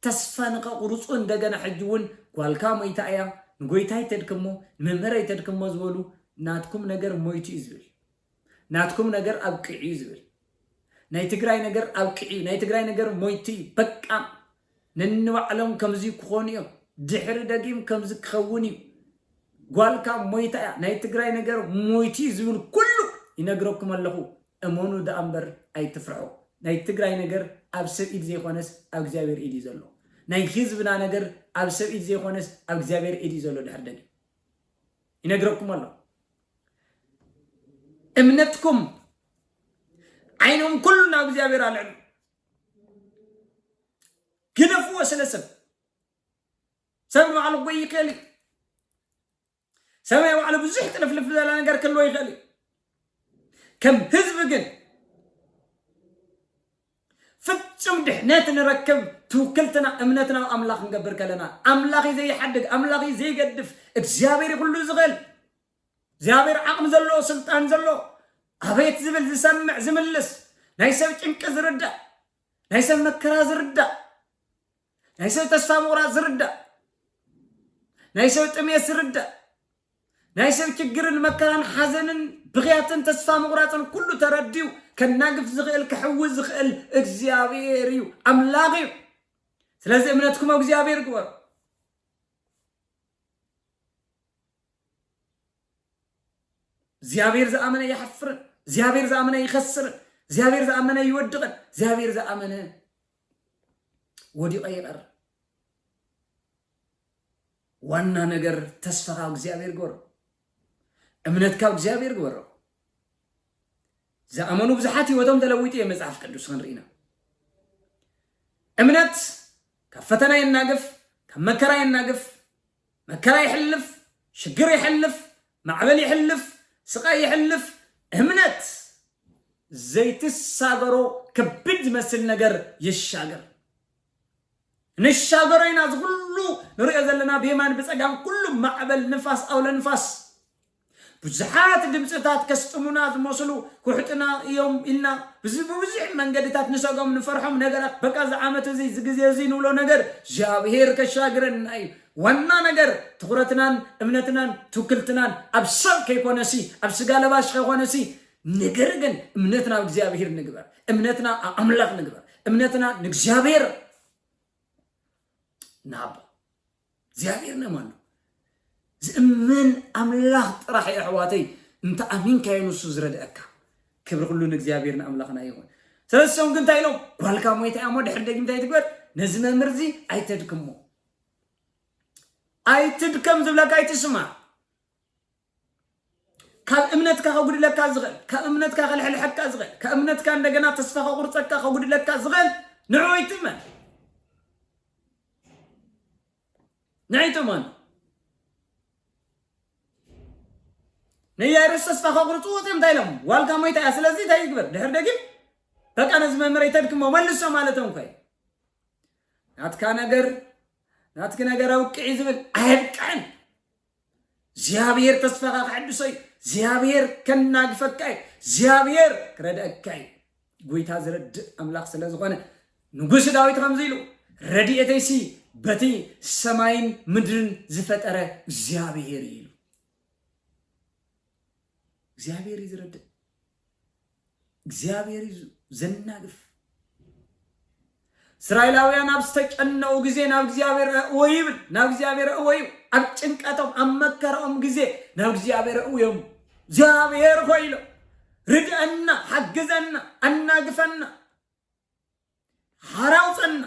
S1: ተስፋ ንከቁሩጹ እንደገና ሕጂ ውን ጓልካ ሞይታ እያ ንጎይታይ ተድክሞ ንመምህረይ ተድክሞ ዝበሉ ናትኩም ነገር ሞይቱ እዩ ዝብል ናትኩም ነገር ኣብቂዑ እዩ ዝብል ናይ ትግራይ ነገር ኣብቂዑ እዩ ናይ ትግራይ ነገር ሞይቱ እዩ በቃ ነንባዕሎም ከምዚ ክኾኑ እዮም ድሕሪ ደጊም ከምዚ ክኸውን እዩ ጓልካ ሞይታ እያ ናይ ትግራይ ነገር ሞይቱ እዩ ዝብል ኩሉ ይነግረኩም ኣለኹ እመኑ ደኣ እምበር ኣይትፍርሑ ናይ ትግራይ ነገር ኣብ ሰብ ኢድ ዘይኮነስ ኣብ እግዚኣብሔር ኢድ እዩ ዘሎ ናይ ህዝብና ነገር ኣብ ሰብ ኢድ ዘይኮነስ ኣብ እግዚኣብሔር ኢድ እዩ ዘሎ ድሕሪ ደጊም ይነግረኩም ኣሎ እምነትኩም ዓይኖም ኩሉ ናብ እግዚኣብሔር ኣልዕሉ ግደፍዎ ስለ ሰብ ሰብ ንባዕሉ ጎይ ይኽእል እዩ ሰብ ናይ ባዕሉ ብዙሕ ጥልፍልፍ ዘለ ነገር ክህልዎ ይኽእል እዩ ከም ህዝቢ ግን ፍጹም ድሕነት ንረክብ ትውክልትና እምነትና ኣብ ኣምላኽ ክንገብር ከለና ኣምላኽ እዩ ዘይሓድግ ኣምላኽ እዩ ዘይገድፍ እግዚኣብሔር እዩ ኩሉ ዝኽእል እግዚኣብሔር ዓቕሚ ዘለዎ ስልጣን ዘለዎ ኣቤት ዝብል ዝሰምዕ ዝምልስ ናይ ሰብ ጭንቂ ዝርዳእ ናይ ሰብ መከራ ዝርዳእ ናይ ሰብ ተስፋ ምቑራፅ ዝርዳእ፣ ናይ ሰብ ጥሜት ዝርዳእ፣ ናይ ሰብ ችግርን መከራን ሓዘንን ብኽያትን ተስፋ ምቑራፅን ኩሉ ተረዲኡ ከናግፍ ዝኽእል ክሕዊ ዝኽእል እግዚኣብሔር እዩ፣ ኣምላኽ እዩ። ስለዚ እምነትኩም ኣብ እግዚኣብሔር ግበሩ። እግዚኣብሔር ዝኣመነ ይሓፍርን እግዚኣብሔር ዝኣመነ ይኸስርን እግዚኣብሔር ዝኣመነ ይወድቕን እግዚኣብሔር ዝኣመነ ወዲቐ ይቐር ዋና ነገር ተስፋ ካብ እግዚኣብሔር ግበሮ እምነት ካብ እግዚኣብሔር ግበሮ ዝኣመኑ ብዙሓት ህይወቶም ተለዊጡ እየ መፅሓፍ ቅዱስ ክንርኢና እምነት ካብ ፈተና የናግፍ ካብ መከራ የናግፍ መከራ ይሕልፍ፣ ሽግር ይሕልፍ፣ ማዕበል ይሕልፍ፣ ስቓይ ይሕልፍ፣ እምነት ዘይትሳገሮ ከቢድ ዝመስል ነገር ይሻገር። ንሻገሮ ኢና እዚ ኩሉ ንሪኦ ዘለና ብየማን ብጸጋም ኩሉ ማዕበል ንፋስ ኣውሎ ንፋስ ብዙሓት ድምጽታት ከስጥሙና ዝመስሉ ኩሕጥና እዮም ኢልና ብብዙሕ መንገድታት ንሰጎም ንፈርሖም ነገራት በቃ እዚ ዓመት እዚ እዚ ግዜ እዚ ንብሎ ነገር እግዚኣብሔር ከሻግረና እዩ ዋና ነገር ትኹረትናን እምነትናን ትውክልትናን ኣብ ሰብ ከይኮነሲ ኣብ ስጋ ለባሽ ከይኮነሲ ነገር ግን እምነትና ኣብ እግዚኣብሔር ንግበር እምነትና ኣብ ኣምላኽ ንግበር እምነትና ንእግዚኣብሔር ንሃቦ እግዚኣብሔር ነም ኣሎ ዝእመን ኣምላኽ ጥራሕ እዩ ኣሕዋተይ እንተ ኣሚንካዮ ንሱ ዝረድአካ ክብሪ ኩሉ ንእግዚኣብሔር ንኣምላኽና ይኹን ስለዚ ሰም ግን እንታይ ኢሎም ጓልካ ሞይታ እያ እሞ ድሕሪ ደጊም እንታይ ትግበር ነዚ መምህር እዚ ኣይተድክሞ ኣይትድከም ዝብለካ ኣይትስማዕ ካብ እምነትካ ከጉድለካ ዝኽእል ካብ እምነትካ ከልሕልሐካ ዝኽእል ካብ እምነትካ እንደገና ተስፋ ከቁርፀካ ከጉድለካ ዝኽእል ንዑ ይትመን ንዑ ይትመን ንያይሮስ ተስፋ ከቁርፅዎ እዮም እንታይ ኢሎም ዋልካ ሞይታ እያ ስለዚ እንታይ ይግበር ድሕር ደጊም በቃ ነዚ መምህረይ ተድክሞ መልሶ ማለቶም ኮይ ናትካ ነገር ናትኪ ነገር ኣውቅዒ ዝብል ኣየብቅዕን እግዚኣብሔር ተስፋኻ ክሕድሶ እዩ እግዚኣብሔር ከናግፈካ እዩ እግዚኣብሔር ክረድአካ እዩ ጎይታ ዝረድእ ኣምላኽ ስለ ዝኾነ ንጉስ ዳዊት ከምዚ ኢሉ ረድኤተይሲ በቲ ሰማይን ምድርን ዝፈጠረ እግዚኣብሔር እዩ ኢሉ እግዚኣብሔር እዩ ዝረድእ እግዚኣብሔር እዩ ዘናግፍ እስራኤላውያን ኣብ ዝተጨነቑ ግዜ ናብ እግዚኣብሔር ኣእወ ይብል ናብ እግዚኣብሔር ኣእወ እዩ ኣብ ጭንቀቶም ኣብ መከራኦም ግዜ ናብ እግዚኣብሔር ኣእወ እዮም እግዚኣብሔር ሆይ ኢሎም ርድአና ሓግዘና ኣናግፈና ሓራው ጸና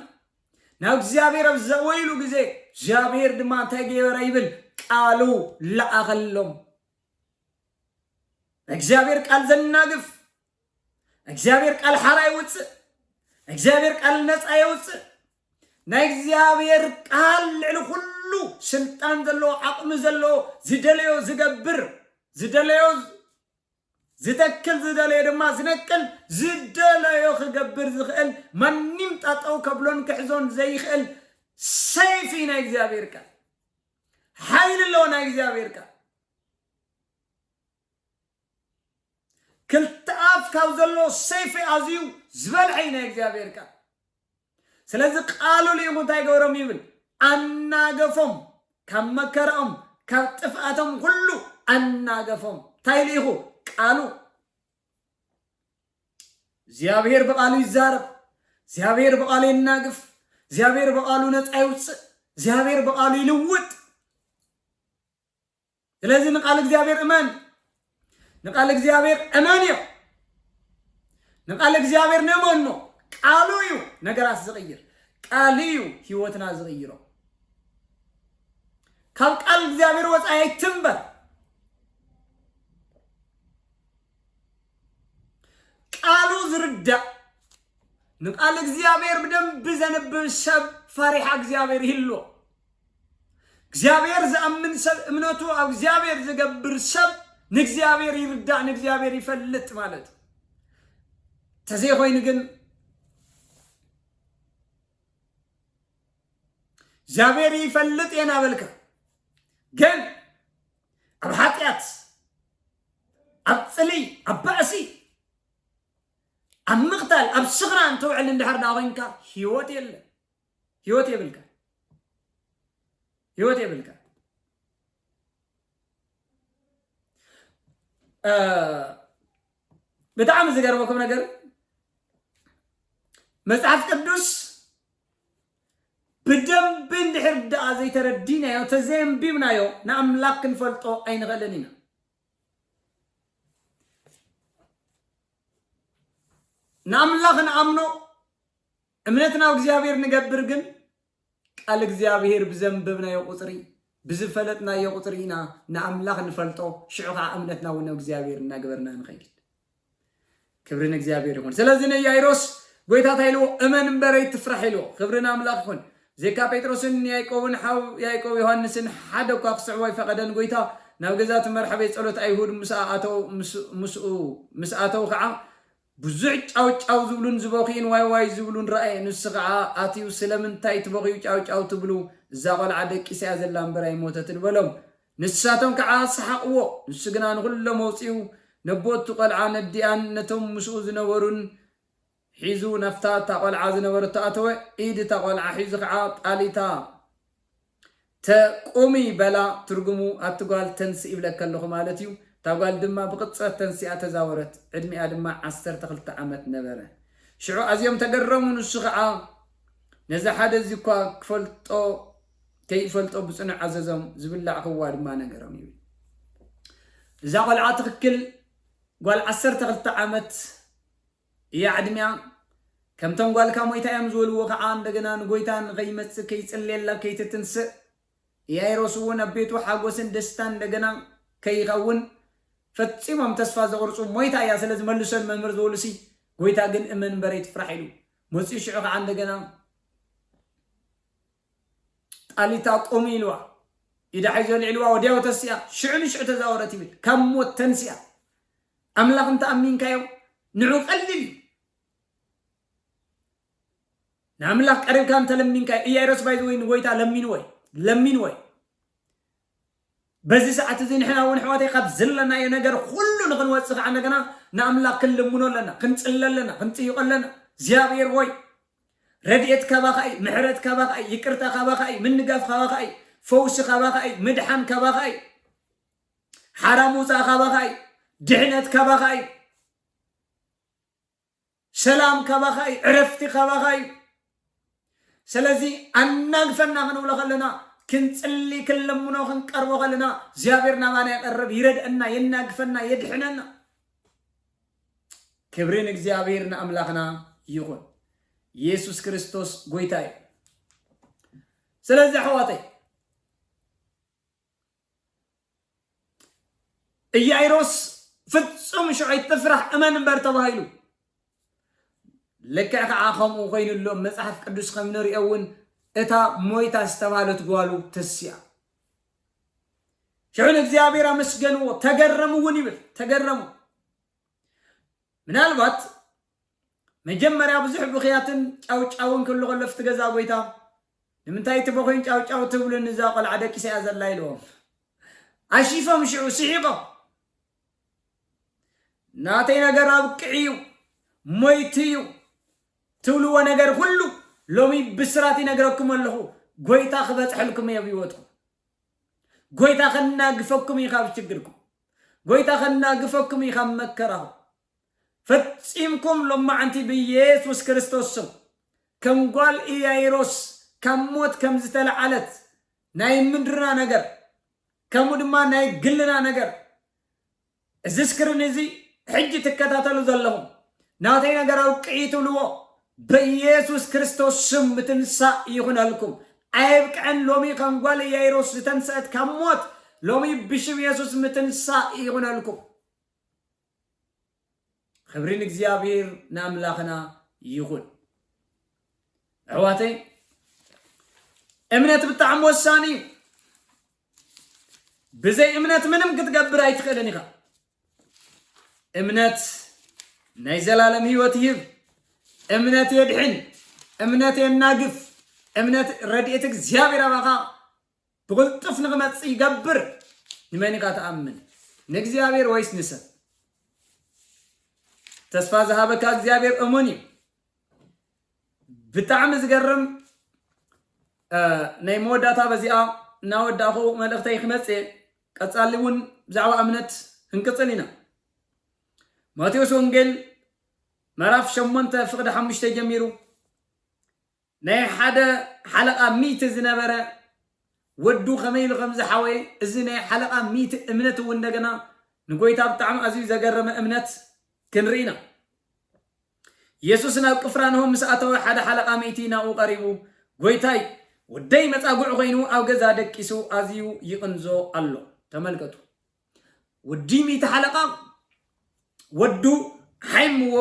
S1: ናብ እግዚኣብሔር ኣብ ዘወይሉ ግዜ እግዚኣብሔር ድማ እንታይ ገበረ ይብል ቃሉ ለኣኸሎም እግዚኣብሔር ቃል ዘናግፍ እግዚኣብሔር ቃል ሓራ ይውፅእ እግዚኣብሔር ቃል ነፃ የውፅእ ናይ እግዚኣብሔር ቃል ልዕሊ ኩሉ ስልጣን ዘለዎ ዓቕሚ ዘለዎ ዝደለዮ ዝገብር ዝደለዮ ዝተክል ዝደለዮ ድማ ዝነቅል ዝደለዮ ክገብር ዝክእል ማኒም ጣጠው ከብሎን ክሕዞን ዘይክእል ሰይፍ እዩ ናይ እግዚኣብሔር ቃል ሓይሊ ኣለዎ ናይ እግዚኣብሔር ቃል ክልተ ኣፍ ካብ ዘለዎ ሰይፊ ኣዝዩ ዝበልዐ እዩ ናይ እግዚኣብሔር ቃል ስለዚ ቃሉ ልኢኹ እንታይ ገበሮም ይብል ኣናገፎም ካብ መከራኦም ካብ ጥፍኣቶም ኩሉ ኣናገፎም እንታይ ልኢኹ ቃሉ እግዚኣብሔር ብቃሉ ይዛረብ እግዚኣብሔር ብቃሉ ይናግፍ እግዚኣብሔር ብቃሉ ነፃ ይውፅእ እግዚኣብሔር ብቃሉ ይልውጥ ስለዚ ንቃል እግዚኣብሔር እመን ንቃል እግዚኣብሔር እመን እዮ ንቃል እግዚኣብሔር ነመኖ ቃሉ እዩ ነገራት ዝቕይር ቃል እዩ ህይወትና ዝቕይሮ ካብ ቃል እግዚኣብሔር ወፃኢ ኣይትንበር ቃሉ ዝርዳእ ንቃል እግዚኣብሔር ብደንብ ዘንብብ ሰብ ፈሪሓ እግዚኣብሔር ይህልዎ እግዚኣብሔር ዝኣምን ሰብ እምነቱ ኣብ እግዚኣብሔር ዝገብር ሰብ ንእግዚኣብሔር ይርዳእ ንእግዚኣብሔር ይፈልጥ ማለት እዩ ተዘይኮይኑ ግን እግዚኣብሔር ይፈልጥ እየ ናበልካ ግን ኣብ ሓጢኣት ኣብ ፅሊ ኣብ ባእሲ ኣብ ምቕታል ኣብ ስኽራን ትውዕል እንድሕር ዳ ኮንካ ህይወት የለን ህይወት የብልካ ህይወት የብልካ ብጣዕሚ ዝገርመኩም ነገር መጽሓፍ ቅዱስ ብደንቢ እንድሕር ደኣ ዘይተረዲናዮ ተዘየንቢብናዮ ንኣምላኽ ክንፈልጦ ኣይንኽእልን ኢና ንኣምላኽ ንኣምኖ እምነት ናብ እግዚኣብሔር ንገብር ግን ቃል እግዚኣብሔር ብዘንበብናዮ ቁፅሪ ብዝፈለጥናዮ ቁፅሪ ኢና ንኣምላኽ ንፈልጦ ሽዑ ከዓ እምነትና እውን ናብ እግዚኣብሔር እናገበርና ንኸይድ ክብሪ ንእግዚኣብሔር ይኹን ስለዚ ንያይሮስ ጎይታ እንታይ ኢልዎ እመን እምበር ኣይትፍራሕ ኢልዎ ክብሪ ንኣምላኽ ይኹን ዜካ ጴጥሮስን ያይቆብን ሓው ያይቆብ ዮሃንስን ሓደ እኳ ክስዕቦ ኣይፈቐደን ጎይታ ናብ ገዛ እቲ መርሐቤ ጸሎት ኣይሁድ ምስ ኣተው ምስ ኣተው ከዓ ብዙሕ ጫው ጫው ዝብሉን ዝበኽዩን ዋይ ዋይ ዝብሉን ረኣየ ንሱ ከኣ ኣትዩ ስለምንታይ ትበኽዩ ጫው ጫው ትብሉ እዛ ቆልዓ ደቂሳ እያ ዘላ እምበር ኣይሞተትን በሎም ንሳቶም ከኣ ሰሓቅዎ ንሱ ግና ንኹሎም ኣውጺኡ ነቦቲ ቆልዓ ነዲኣን ነቶም ምስኡ ዝነበሩን ሒዙ ናብታ እታ ቆልዓ ዝነበረቶ ኣተወ ኢድ እታ ቆልዓ ሒዙ ከኣ ጣል እታ ተ ቁሚ በላ ትርጉሙ ኣቲ ጓል ተንስኢ ይብለኪ ኣለኹ ማለት እዩ እታ ጓል ድማ ብቅጽረት ተንሲኣ ተዛወረት ዕድሚኣ ድማ ዓሰርተ ክልተ ዓመት ነበረ ሽዑ ኣዝዮም ተገረሙ ንሱ ኸኣ ነዚ ሓደ እዚ እኳ ክፈልጦ ከይፈልጦ ብጽኑዕ ኣዘዞም ዝብላዕ ክዋ ድማ ነገሮም ይብል እዛ ቆልዓ ትክክል ጓል ዓሰርተ ክልተ ዓመት እያ ዕድሚኣ ከምቶም ጓልካ ሞይታ እዮም ዝበልዎ ከኣ እንደገና ንጎይታ ንከይመጽእ ከይጽልየላ ከይትትንስእ እያ ይረስዎ ናብ ቤቱ ሓጎስን ደስታን እንደገና ከይከውን ፈጺሞም ተስፋ ዘቁርጹ ሞይታ እያ ስለ ዝመልሶን መምህር ዝበሉሲ ጎይታ ግን እመን እምበር ኣይትፍራሕ ኢሉ መጽኡ ሽዑ ከኣ እንደገና ጣሊታ ቁሚ ኢልዋ ኢዳ ሒዞ ኣልዒልዋ ወዲያው ተሲኣ ሽዑ ንሽዑ ተዛወረት ይብል ካብ ሞት ተንሲኣ ኣምላኽ እንተ ኣሚንካዮ ንዑ ቀሊል እዩ። ንኣምላኽ ቀሪብካ እንተ ለሚንካዮ እያይሮስ ባይ ወይ ንጎይታ ለሚንዎ እዩ ለሚንዎ እዩ በዚ ሰዓት እዚ ንሕና እውን ኣሕዋተይ ካብ ዘለናዮ ነገር ኩሉ ንክንወፅእ ከዓ እንደገና ንኣምላኽ ክንልምኖ ኣለና ክንፅለ ኣለና ክንጥይቆ ኣለና እግዚኣብሔር ወይ ረድኤት ካባኻ እዩ ምሕረት ካባኻ እዩ ይቅርታ ካባኻ እዩ ምንጋፍ ካባኻ እዩ ፈውሲ ካባኻ እዩ ምድሓን ካባኻ እዩ ሓራ ምውፃእ ካባኻ እዩ ድሕነት ካባኻ እዩ ሰላም ካባኻ እዩ ዕረፍቲ ካባኻ እዩ ስለዚ ኣናግፈና ክንብሎ ከለና ክንፅሊ ክንለምኖ ክንቀርቦ ከለና እግዚኣብሔር ናባና ይቀርብ ይረድአና የናግፈና የድሕነና ክብሪ ንእግዚኣብሔር ንኣምላኽና ይኹን ኢየሱስ ክርስቶስ ጎይታ እዩ ስለዚ ኣሕዋተይ እያይሮስ ፍጹም ሽዑ ኣይትፍራሕ እመን እምበር ተባሂሉ ልክዕ ከዓ ከምኡ ኮይኑ ኣሎ መፅሓፍ ቅዱስ ከም ንሪኦ እውን እታ ሞይታ ዝተባሃለት ጓሉ ተስያ ሽዑ ንእግዚኣብሔር ኣመስገንዎ ተገረሙ እውን ይብል ተገረሙ ምናልባት መጀመርያ ብዙሕ ብኽያትን ጫውጫውን ክህሉ ከሎ ኣፍቲ ገዛ ጎይታ ንምንታይ እቲ በኹይን ጫውጫው ትብሉን እዛ ቆልዓ ደቂሳ እያ ዘላ ኢልዎም ኣሺፎም ሽዑ ስሒቆም ናተይ ነገር ኣብቅዒ እዩ ሞይት እዩ ትብልዎ ነገር ኩሉ ሎሚ ብስራት ይነግረኩም ኣለኹ ጎይታ ክበፅሐልኩም እየ ብሂወትኩም ጎይታ ከናግፈኩም እዩ ካብ ችግርኩም ጎይታ ከናግፈኩም እዩ ካብ መከራኹም ፈጺምኩም ሎማዕንቲ ብየሱስ ክርስቶስ ስም ከም ጓል ኢያይሮስ ካብ ሞት ከም ዝተለዓለት ናይ ምድርና ነገር ከምኡ ድማ ናይ ግልና ነገር እዚ ስክሪን እዚ ሕጂ ትከታተሉ ዘለኹም ናተይ ነገር ኣውቅዒ ትብልዎ በየሱስ ክርስቶስ ስም ምትንሳእ ይኹነልኩም ኣየብቅዐን ሎሚ ከም ጓል ኢያይሮስ ዝተንሰአት ካብ ሞት ሎሚ ብሽም የሱስ ምትንሳእ ይኹነልኩም ኽብሪ ንእግዚኣብሔር ንኣምላኽና ይኹን ኣሕዋተይ እምነት ብጣዕሚ ወሳኒ እዩ ብዘይ እምነት ምንም ክትገብር ኣይትኽእልን ኢኻ እምነት ናይ ዘላለም ህይወት ይህብ እምነት የድሕን እምነት የናግፍ እምነት ረድኤት እግዚኣብሔር ኣባኻ ብቕልጡፍ ንኽመጽእ ይገብር። ንመን ኢኻ ትኣምን? ንእግዚኣብሔር ወይስ ንሰብ? ተስፋ ዝሃበካ እግዚኣብሔር እሙን እዩ። ብጣዕሚ ዝገርም ናይ መወዳእታ በዚኣ እናወዳእኹ መልእኽተይ ክመጽእ ቀጻሊ እውን ብዛዕባ እምነት ክንቅጽል ኢና። ማቴዎስ ወንጌል ምዕራፍ ሸሞንተ ፍቕዲ ሓሙሽተ ጀሚሩ ናይ ሓደ ሓለቓ ሚቲ ዝነበረ ወዱ ከመይ ኢሉ ከም ዝሓወየ፣ እዚ ናይ ሓለቓ ሚቲ እምነት እውን እንደገና ንጎይታ ብጣዕሚ ኣዝዩ ዘገረመ እምነት ክንርኢ ኢና። የሱስ ናብ ቅፍራንሆም ምስ ኣተወ ሓደ ሓለቓ ሚቲ ናብኡ ቀሪቡ ጎይታይ ወደይ መጻጉዕ ኮይኑ ኣብ ገዛ ደቂሱ ኣዝዩ ይቕንዞ ኣሎ። ተመልከቱ። ወዲ ሚእቲ ሓለቓ ወዱ ሓይምዎ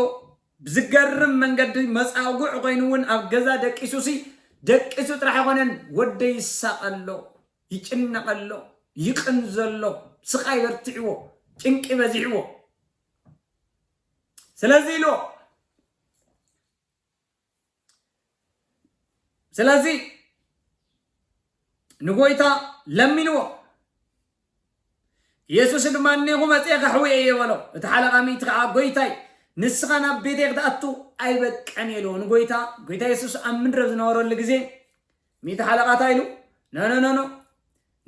S1: ብዝገርም መንገዲ መፃጉዕ ኮይኑ እውን ኣብ ገዛ ደቂሱ ሲ ደቂሱ ጥራሕ ኣይኮነን ወደይ ይሳቐሎ ይጭነቐሎ ይቕንዘሎ ስቓይ በርቲዕዎ ጭንቂ በዚሕዎ ስለዚ ኢልዎ ስለዚ ንጎይታ ለሚንዎ የሱስ ድማ እኔኹ መፅኤ ከሕዊ እየ በሎ እቲ ሓለቓ ሚእቲ ከዓ ጎይታይ ንስኻ ናብ ቤተ ክትኣቱ ኣይበቀን የልዎ ንጎይታ ጎይታ የሱስ ኣብ ምድረ ዝነበረሉ ግዜ ሚእቲ ሓለቓታ ኢሉ ነነነኖ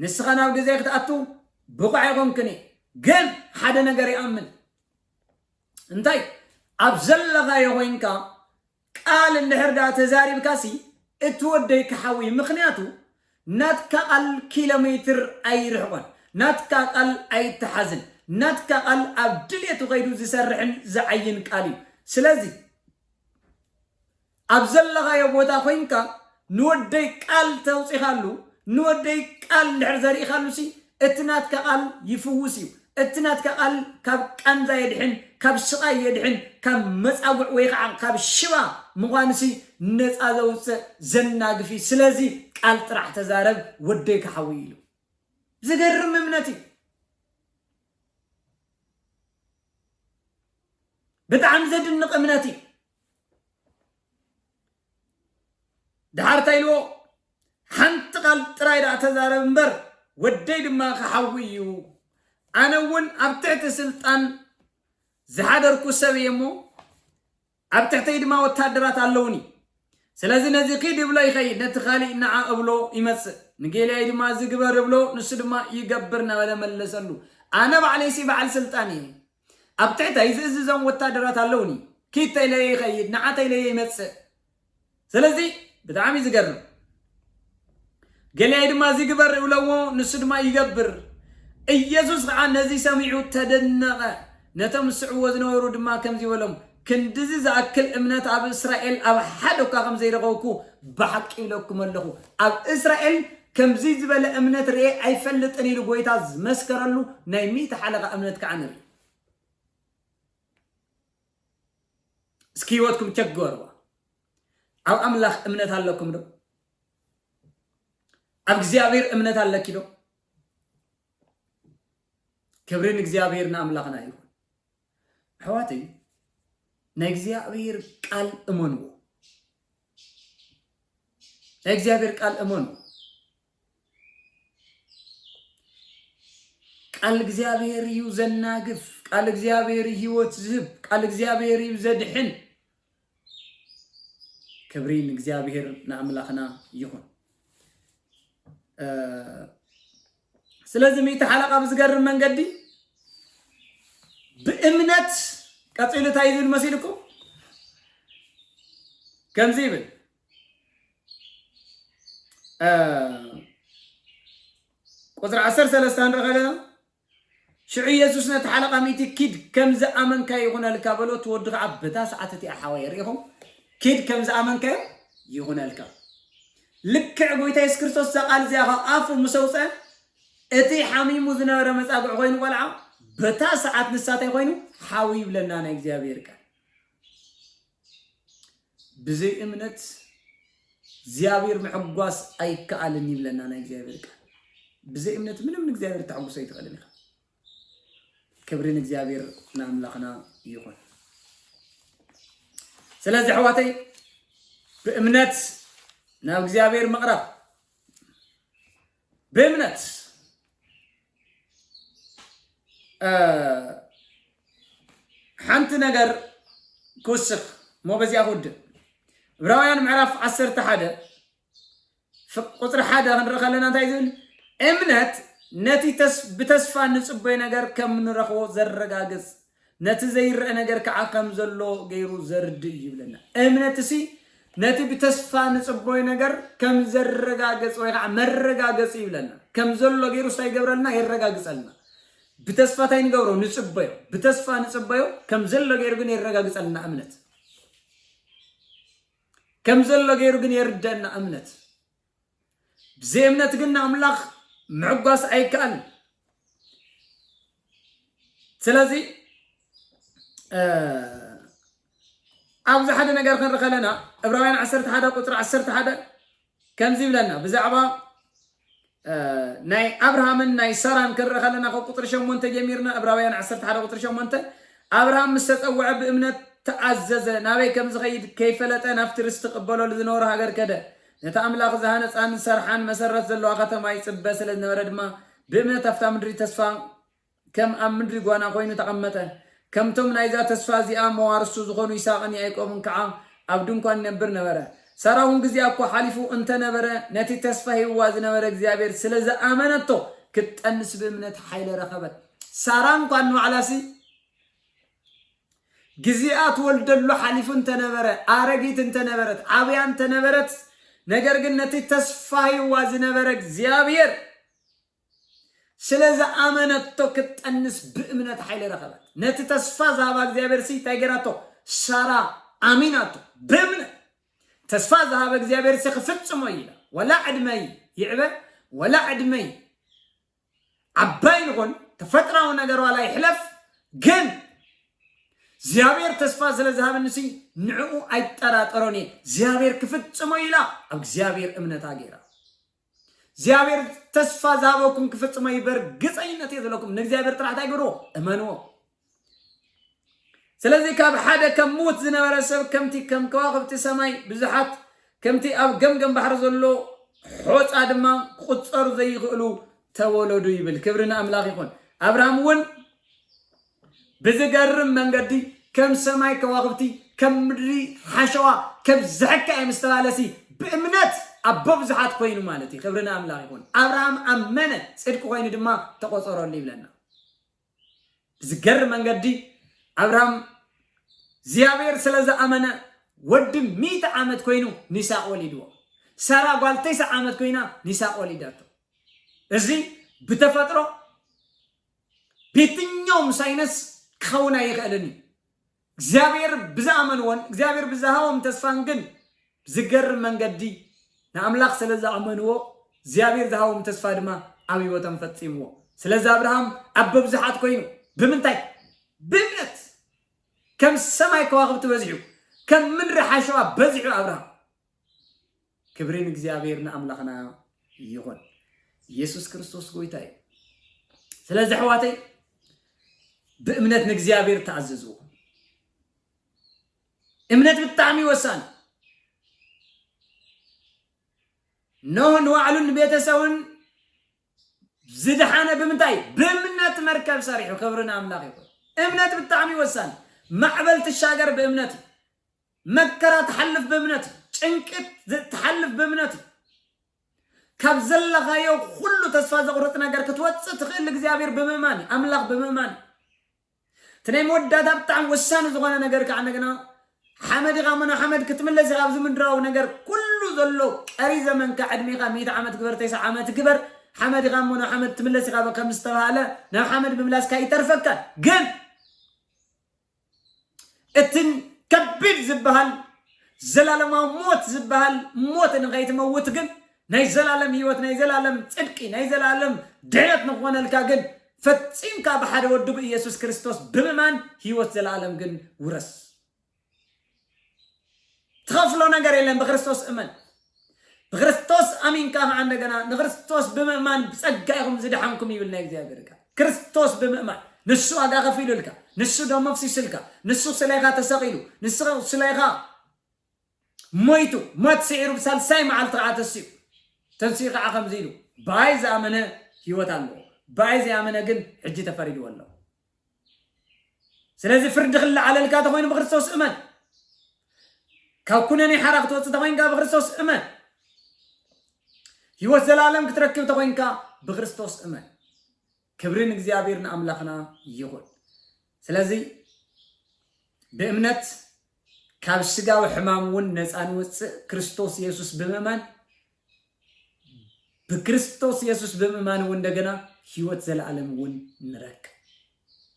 S1: ንስኻ ናብ ግዜ ክትኣቱ ብቑዕ ኣይኮንክን ግን ሓደ ነገር ይኣምን እንታይ ኣብ ዘለኻዮ ኮይንካ ቃል እንድሕር ደኣ ተዛሪብካሲ እቲ ወደይ ክሓዊ እዩ ምክንያቱ ናትካ ቃል ኪሎ ሜትር ኣይርሕቆን ናትካ ቃል ኣይተሓዝን ናትካ ቃል ኣብ ድሌቱ ከይዱ ዝሰርሕን ዝዓይን ቃል እዩ ስለዚ ኣብ ዘለኻዮ ቦታ ኮይንካ ንወደይ ቃል ተውጺኻሉ ንወደይ ቃል እንድሕር ዘሪኢኻሉሲ እቲ ናትካ ቃል ይፍውስ እዩ እቲ ናትካ ቃል ካብ ቃንዛ የድሕን ካብ ስቓይ የድሕን ካብ መጻጉዕ ወይ ኸዓ ካብ ሽባ ምዃንሲ ነጻ ዘውጽእ ዘናግፍ እዩ ስለዚ ቃል ጥራሕ ተዛረብ ወደይ ክሓዊ ኢሉ ዝገርም እምነት እዩ ብጣዕሚ ዘድንቕ እምነት እዩ ድሓር እንታይ ኢልዎ ሓንቲ ቃል ጥራይ ደኣ ተዛረብ እምበር ወደይ ድማ ክሓዊ እዩ ኣነ እውን ኣብ ትሕቲ ስልጣን ዝሓደርኩ ሰብ እየ እሞ ኣብ ትሕተይ ድማ ወታደራት ኣለውኒ ስለዚ ነዚ ኪድ እብሎ ይኸይድ ነቲ ካሊእ ንዓ እብሎ ይመፅእ ንጌልያይ ድማ እዚ ግበር እብሎ ንሱ ድማ ይገብር እናበለ መለሰሉ ኣነ ባዕለይሲ በዓል ስልጣን እየ ኣብ ትሕተይ ዝእዝዞም ወታደራት ኣለውኒ ኪድ ተኢለዮ ይከይድ ንዓ ተኢለዮ ይመጽእ ስለዚ ብጣዕሚ ዝገርም ገሊኣይ ድማ እዚ ግበር እብለዎ ንሱ ድማ ይገብር ኢየሱስ ከዓ ነዚ ሰሚዑ ተደነቐ ነቶም ዝስዕዎ ዝነበሩ ድማ ከምዚ በሎም ክንድዚ ዝኣክል እምነት ኣብ እስራኤል ኣብ ሓደ እኳ ከም ዘይረኸብኩ ብሓቂ ኢለኩም ኣለኹ። ኣብ እስራኤል ከምዚ ዝበለ እምነት ርእየ ኣይፈልጥን ኢሉ ጐይታ ዝመስከረሉ ናይ ሚእቲ ሓለቓ እምነት ከኣ ንርኢ። እስኪ ህይወትኩም ቸክ ግበርዋ። ኣብ ኣምላኽ እምነት ኣለኩም ዶ? ኣብ እግዚኣብሔር እምነት ኣለኪ ዶ? ክብሪ ንእግዚኣብሔር ንኣምላኽና ይኹን። ኣሕዋተይ ናይ እግዚኣብሔር ቃል እመንዎ ናይ እግዚኣብሔር ቃል እመኑ ቃል እግዚኣብሔር እዩ ዘናግፍ ቃል እግዚኣብሔር ህይወት ዝህብ ቃል እግዚኣብሔር እዩ ዘድሕን ክብሪ ንእግዚኣብሔር ንኣምላኽና ይኹን። ስለዚ ሚእቲ ሓለቃ ብዝገርም መንገዲ ብእምነት ቀፂሉ እንታይ ዝብል መሲልኩም ከምዚ ይብል ቁፅሪ ዓሰርተ ሰለስተ ንርኢ ከለና ሽዑ የሱስ ነቲ ሓለቓ ሚእቲ፣ ኪድ፣ ከም ዝኣመንካዮ ይኹነልካ፣ በሎ። እቲ ወዲ ኸኣ በታ ሰዓት እቲኣ፣ ሓወየ፣ ርኢኹም፣ ኪድ፣ ከም ዝኣመንካዮ ይኹነልካ። ልክዕ ጐይታ የሱስ ክርስቶስ እዛ ቓል እዚኣ ኻብ ኣፉ ምስ ኣውጽኣ፣ እቲ ሓሚሙ ዝነበረ መጻግዒ ዀይኑ ቈልዓ፣ በታ ሰዓት ንሳ እንታይ ዀይኑ? ሓው ይብለና ናይ እግዚኣብሄር ቃል። ብዘይ እምነት እግዚኣብሔር ምሕጓስ ኣይከኣልን ይብለና ናይ እግዚኣብሔር ቃል። ብዘይ እምነት ምንም ንእግዚኣብሔር ተሐጉሶ ኣይትኽእልን ኢኻ። ክብሪ ንእግዚኣብሔር ንኣምላኽና ይኹን። ስለዚ ኣሕዋተይ ብእምነት ናብ እግዚኣብሔር ምቕራብ ብእምነት ሓንቲ ነገር ክውስኽ እሞ በዚኣ ክውድእ ዕብራውያን ምዕራፍ ዓሰርተ ሓደ ቁፅሪ ሓደ ክንርኢ ከለና እንታይ ዝብል እምነት ነቲ ተስ- ብተስፋ ንጽበዮ ነገር ከም ንረኽቦ ዘረጋግጽ ነቲ ዘይረኣ ነገር ከኣ ከም ዘሎ ገይሩ ዘርድእ እዩ ይብለና። እምነትሲ ነቲ ብተስፋ ንጽቦይ ነገር ከም ዘረጋገጽ ወይ ከዓ መረጋገጽ እዩ ይብለና። ከም ዘሎ ገይሩ ስታይ ይገብረልና የረጋግጸልና። ብተስፋ ታይ ንገብሮ ንጽበዮ፣ ብተስፋ ንጽበዮ ከም ዘሎ ገይሩ ግን የረጋግጸልና እምነት። ከም ዘሎ ገይሩ ግን የርደና እምነት። ብዘይእምነት ግን ንኣምላኽ ምዕጓስ ኣይከኣልን እዩ። ስለዚ ኣብዚ ሓደ ነገር ክንርኢ ከለና ዕብራውያን 11 ቁፅሪ 11 ከምዚ ይብለና ብዛዕባ ናይ ኣብርሃምን ናይ ሰራን ክንርኢ ከለና ካብ ቁፅሪ ሸሞንተ ጀሚርና ዕብራውያን 11 ቁፅሪ ሸሞንተ ኣብርሃም ምስ ተፀውዐ ብእምነት ተኣዘዘ ናበይ ከም ዝኸይድ ከይፈለጠ ናብቲ ርስቲ ክቕበለሉ ዝነበሮ ሃገር ከደ ነታ ኣምላኽ ዝሃነጻን ዝሰርሓን መሰረት ዘለዋ ከተማ ይጽበ ስለ ዝነበረ ድማ፣ ብእምነት ኣብታ ምድሪ ተስፋ ከም ኣብ ምድሪ ጓና ዀይኑ ተቐመጠ። ከምቶም ናይዛ ተስፋ እዚኣ መዋርስቱ ዝዀኑ ይስሃቅን ያእቆብን ከኣ ኣብ ድንኳን ይነብር ነበረ። ሳራ እውን ግዜኣ እኳ ሓሊፉ እንተ ነበረ፣ ነቲ ተስፋ ሂብዋ ዝነበረ እግዚኣብሄር ስለ ዝኣመነቶ፣ ክትጠንስ ብእምነት ሓይሊ ረኸበት። ሳራ እንኳን ንባዕላሲ፣ ግዚኣ ትወልደሉ ሓሊፉ እንተነበረ፣ ኣረጊት እንተነበረት፣ ዓብያ እንተነበረት፣ ነገር ግን ነቲ ተስፋ ሂብዋ ዝነበረ እግዚኣብሔር ስለ ዝኣመነቶ ክትጠንስ ብእምነት ሓይሊ ረኸበት። ነቲ ተስፋ ዝሃባ እግዚኣብሔርሲ እንታይ ገይራቶ? ሳራ ኣሚናቶ ብእምነት። ተስፋ ዝሃበ እግዚኣብሔርሲ ክፍጽሞ እዩ ኢላ ዋላ ዕድመይ ይዕበ ዋላ ዕድመይ ዓባይ ንኹን ተፈጥራዊ ነገር ዋላ ይሕለፍ ግን እግዚኣብሔር ተስፋ ስለ ዝሃበኒ ሲ ንዕኡ ኣይጠራጠሮን እየ እግዚኣብሔር ክፍጽሞ ኢላ ኣብ እግዚኣብሔር እምነታ ገይራ እግዚኣብሔር ተስፋ ዝሃበኩም ክፍጽሞ እዩ በርግፀኝነት እየ ዘለኩም ንእግዚኣብሔር ጥራሕ እንታይ ግብርዎ እመንዎ ስለዚ ካብ ሓደ ከም ምዉት ዝነበረ ሰብ ከምቲ ከም ከዋኽብቲ ሰማይ ብዙሓት ከምቲ ኣብ ገምገም ባሕሪ ዘሎ ሖጻ ድማ ክቑጸሩ ዘይኽእሉ ተወለዱ ይብል። ክብሪ ንኣምላኽ ይኹን። ኣብርሃም እውን ብዝገርም መንገዲ ከም ሰማይ ከዋኽብቲ ከም ምድሪ ሓሸዋ ከብዝሐካ እየ ምስ ተባለሲ ብእምነት ኣቦ ብዙሓት ኮይኑ ማለት እዩ። ክብሪ ንኣምላኽ ይኹን። ኣብርሃም ኣመነ ጽድቂ ኮይኑ ድማ ተቖጸረሉ ይብለና። ብዝገርም መንገዲ ኣብርሃም እግዚኣብሔር ስለ ዝኣመነ ወዲ ሚእቲ ዓመት ኮይኑ ንይስሐቅ ወሊድዎ ሳራ ጓል ተስዓ ዓመት ኮይና ንይስሐቅ ወሊዳቶ እዚ ብተፈጥሮ ቤትኛውም ሳይነስ ክኸውን ኣይኽእልን እዩ እግዚኣብሔር ብዝኣመንዎን እግዚኣብሔር ብዝሃቦም ተስፋን ግን ብዝገርም መንገዲ ንኣምላኽ ስለ ዝኣመንዎ እግዚኣብሔር ዝሃቦም ተስፋ ድማ ኣብ ህይወቶም ፈጺምዎ። ስለዚ ኣብርሃም ኣቦ ብዙሓት ኮይኑ ብምንታይ? ብእምነት ከም ሰማይ ከዋኽብቲ በዚሑ ከም ምድሪ ሓሸዋ በዚሑ ኣብርሃም ክብሪ ንእግዚኣብሔር ንኣምላኽና ይኹን ኢየሱስ ክርስቶስ ጎይታ እዩ ስለዚ ኣሕዋተይ ብእምነት ንእግዚኣብሔር ተኣዘዝዎ እምነት ብጣዕሚ ወሳኒ ኖህ ንባዕሉን ንቤተሰቡን ዝድሓነ ብምንታይ ብእምነት መርከብ ሰሪሑ ክብሪ ንኣምላኽ ይኹን እምነት ብጣዕሚ ወሳኒ ማዕበል ትሻገር ብእምነት እዩ መከራ ትሓልፍ ብእምነት እዩ። ጭንቅት ትሓልፍ ብእምነት እዩ። ካብ ዘለኻዮ ኩሉ ተስፋ ዘቑርጽ ነገር ክትወጽእ ትኽእል እግዚኣብሔር ብምእማን እዩ። ኣምላኽ ብምእማን እዩ። እቲ ናይ መወዳእታ ብጣዕሚ ወሳኒ ዝኾነ ነገር ከዓ እንደገና ሓመድ ኢኻ ምኖ ሓመድ ክትምለስ ኢኻ ኣብዚ ምድራዊ ነገር ኩሉ ዘሎ ቀሪ ዘመንካ ዕድሜኻ ሚእቲ ዓመት ግበር ተስዓ ዓመት ግበር ሓመድ ኢኻ ምኖ ሓመድ ትምለስ ኢኻ ከም ዝተባሃለ ናብ ሓመድ ምምላስካ ይተርፈካ ግን እትን ከቢድ ዝበሃል ዘላለማዊ ሞት ዝበሃል ሞት ንኸይትመውት ግን ናይ ዘላለም ህይወት ናይ ዘላለም ጽድቂ ናይ ዘላለም ድሕነት ንክኾነልካ ግን ፈጺምካ ብሓደ ወዱ ብኢየሱስ ክርስቶስ ብምማን ህይወት ዘላለም ግን ውረስ ትኸፍሎ ነገር የለን ብክርስቶስ እመን ብክርስቶስ ኣሚንካ ከዓ እንደገና ንክርስቶስ ብምእማን ብጸጋ ኢኹም ዝደሓንኩም ይብል ናይ እግዚኣብሔር ቃል ክርስቶስ ብምእማን ንሱ ዋጋ ከፊሉልካ ንሱ ደሞ ኣፍሲሱልካ ንሱ ስለኻ ተሰቒሉ ንሱ ስለኻ ሞይቱ ሞት ስዒሩ ብሳልሳይ መዓልቲ ከዓ ተስኡ ተንስኡ ከዓ ከምዚ ኢሉ ብኣይ ዝኣመነ ህይወት ኣለዎ ብኣይ ዘይኣመነ ግን ሕጂ ተፈሪድዎ ኣለዎ ስለዚ ፍርዲ ክለዓለልካ ተኾይኑ ብክርስቶስ እመን ካብ ኩነኔ ሓራ ክትወፅእ ተኾይንካ ብክርስቶስ እመን ህይወት ዘላለም ክትረክብ ተኾይንካ ብክርስቶስ እመን ክብሪ ንእግዚኣብሔር ንኣምላኽና ይኹን ስለዚ ብእምነት ካብ ስጋዊ ሕማም እውን ነፃ ንወፅእ ክርስቶስ የሱስ ብምእማን ብክርስቶስ የሱስ ብምእማን እውን እንደገና ህይወት ዘለኣለም እውን ንረክብ።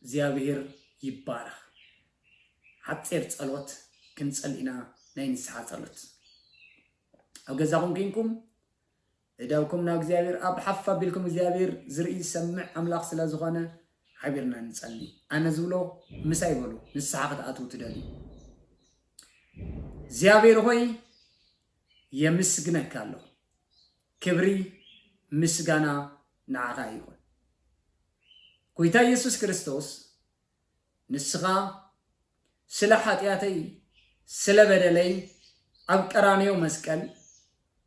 S1: እግዚኣብሄር ይባረኽ። ሓጺር ጸሎት ክንጸሊ ኢና፣ ናይ ንስሓ ጸሎት። ኣብ ገዛኹም ኴንኩም እዳውኩም ናብ እግዚኣብሄር ኣብ ሓፍ ኣቢልኩም እግዚኣብሄር ዝርኢ ዝሰምዕ ኣምላኽ ስለ ዝኾነ ሓቢርና ንጸሊ። ኣነ ዝብሎ ምሳይ በሉ ንስሓ ክትኣትዉ ትደልዩ። እግዚኣብሄር ሆይ የምስግነካ ኣለኹ ክብሪ ምስጋና ንዓኻ ይኹን ጎይታ ኢየሱስ ክርስቶስ ንስኻ ስለ ሓጢኣተይ ስለ በደለይ ኣብ ቀራንዮ መስቀል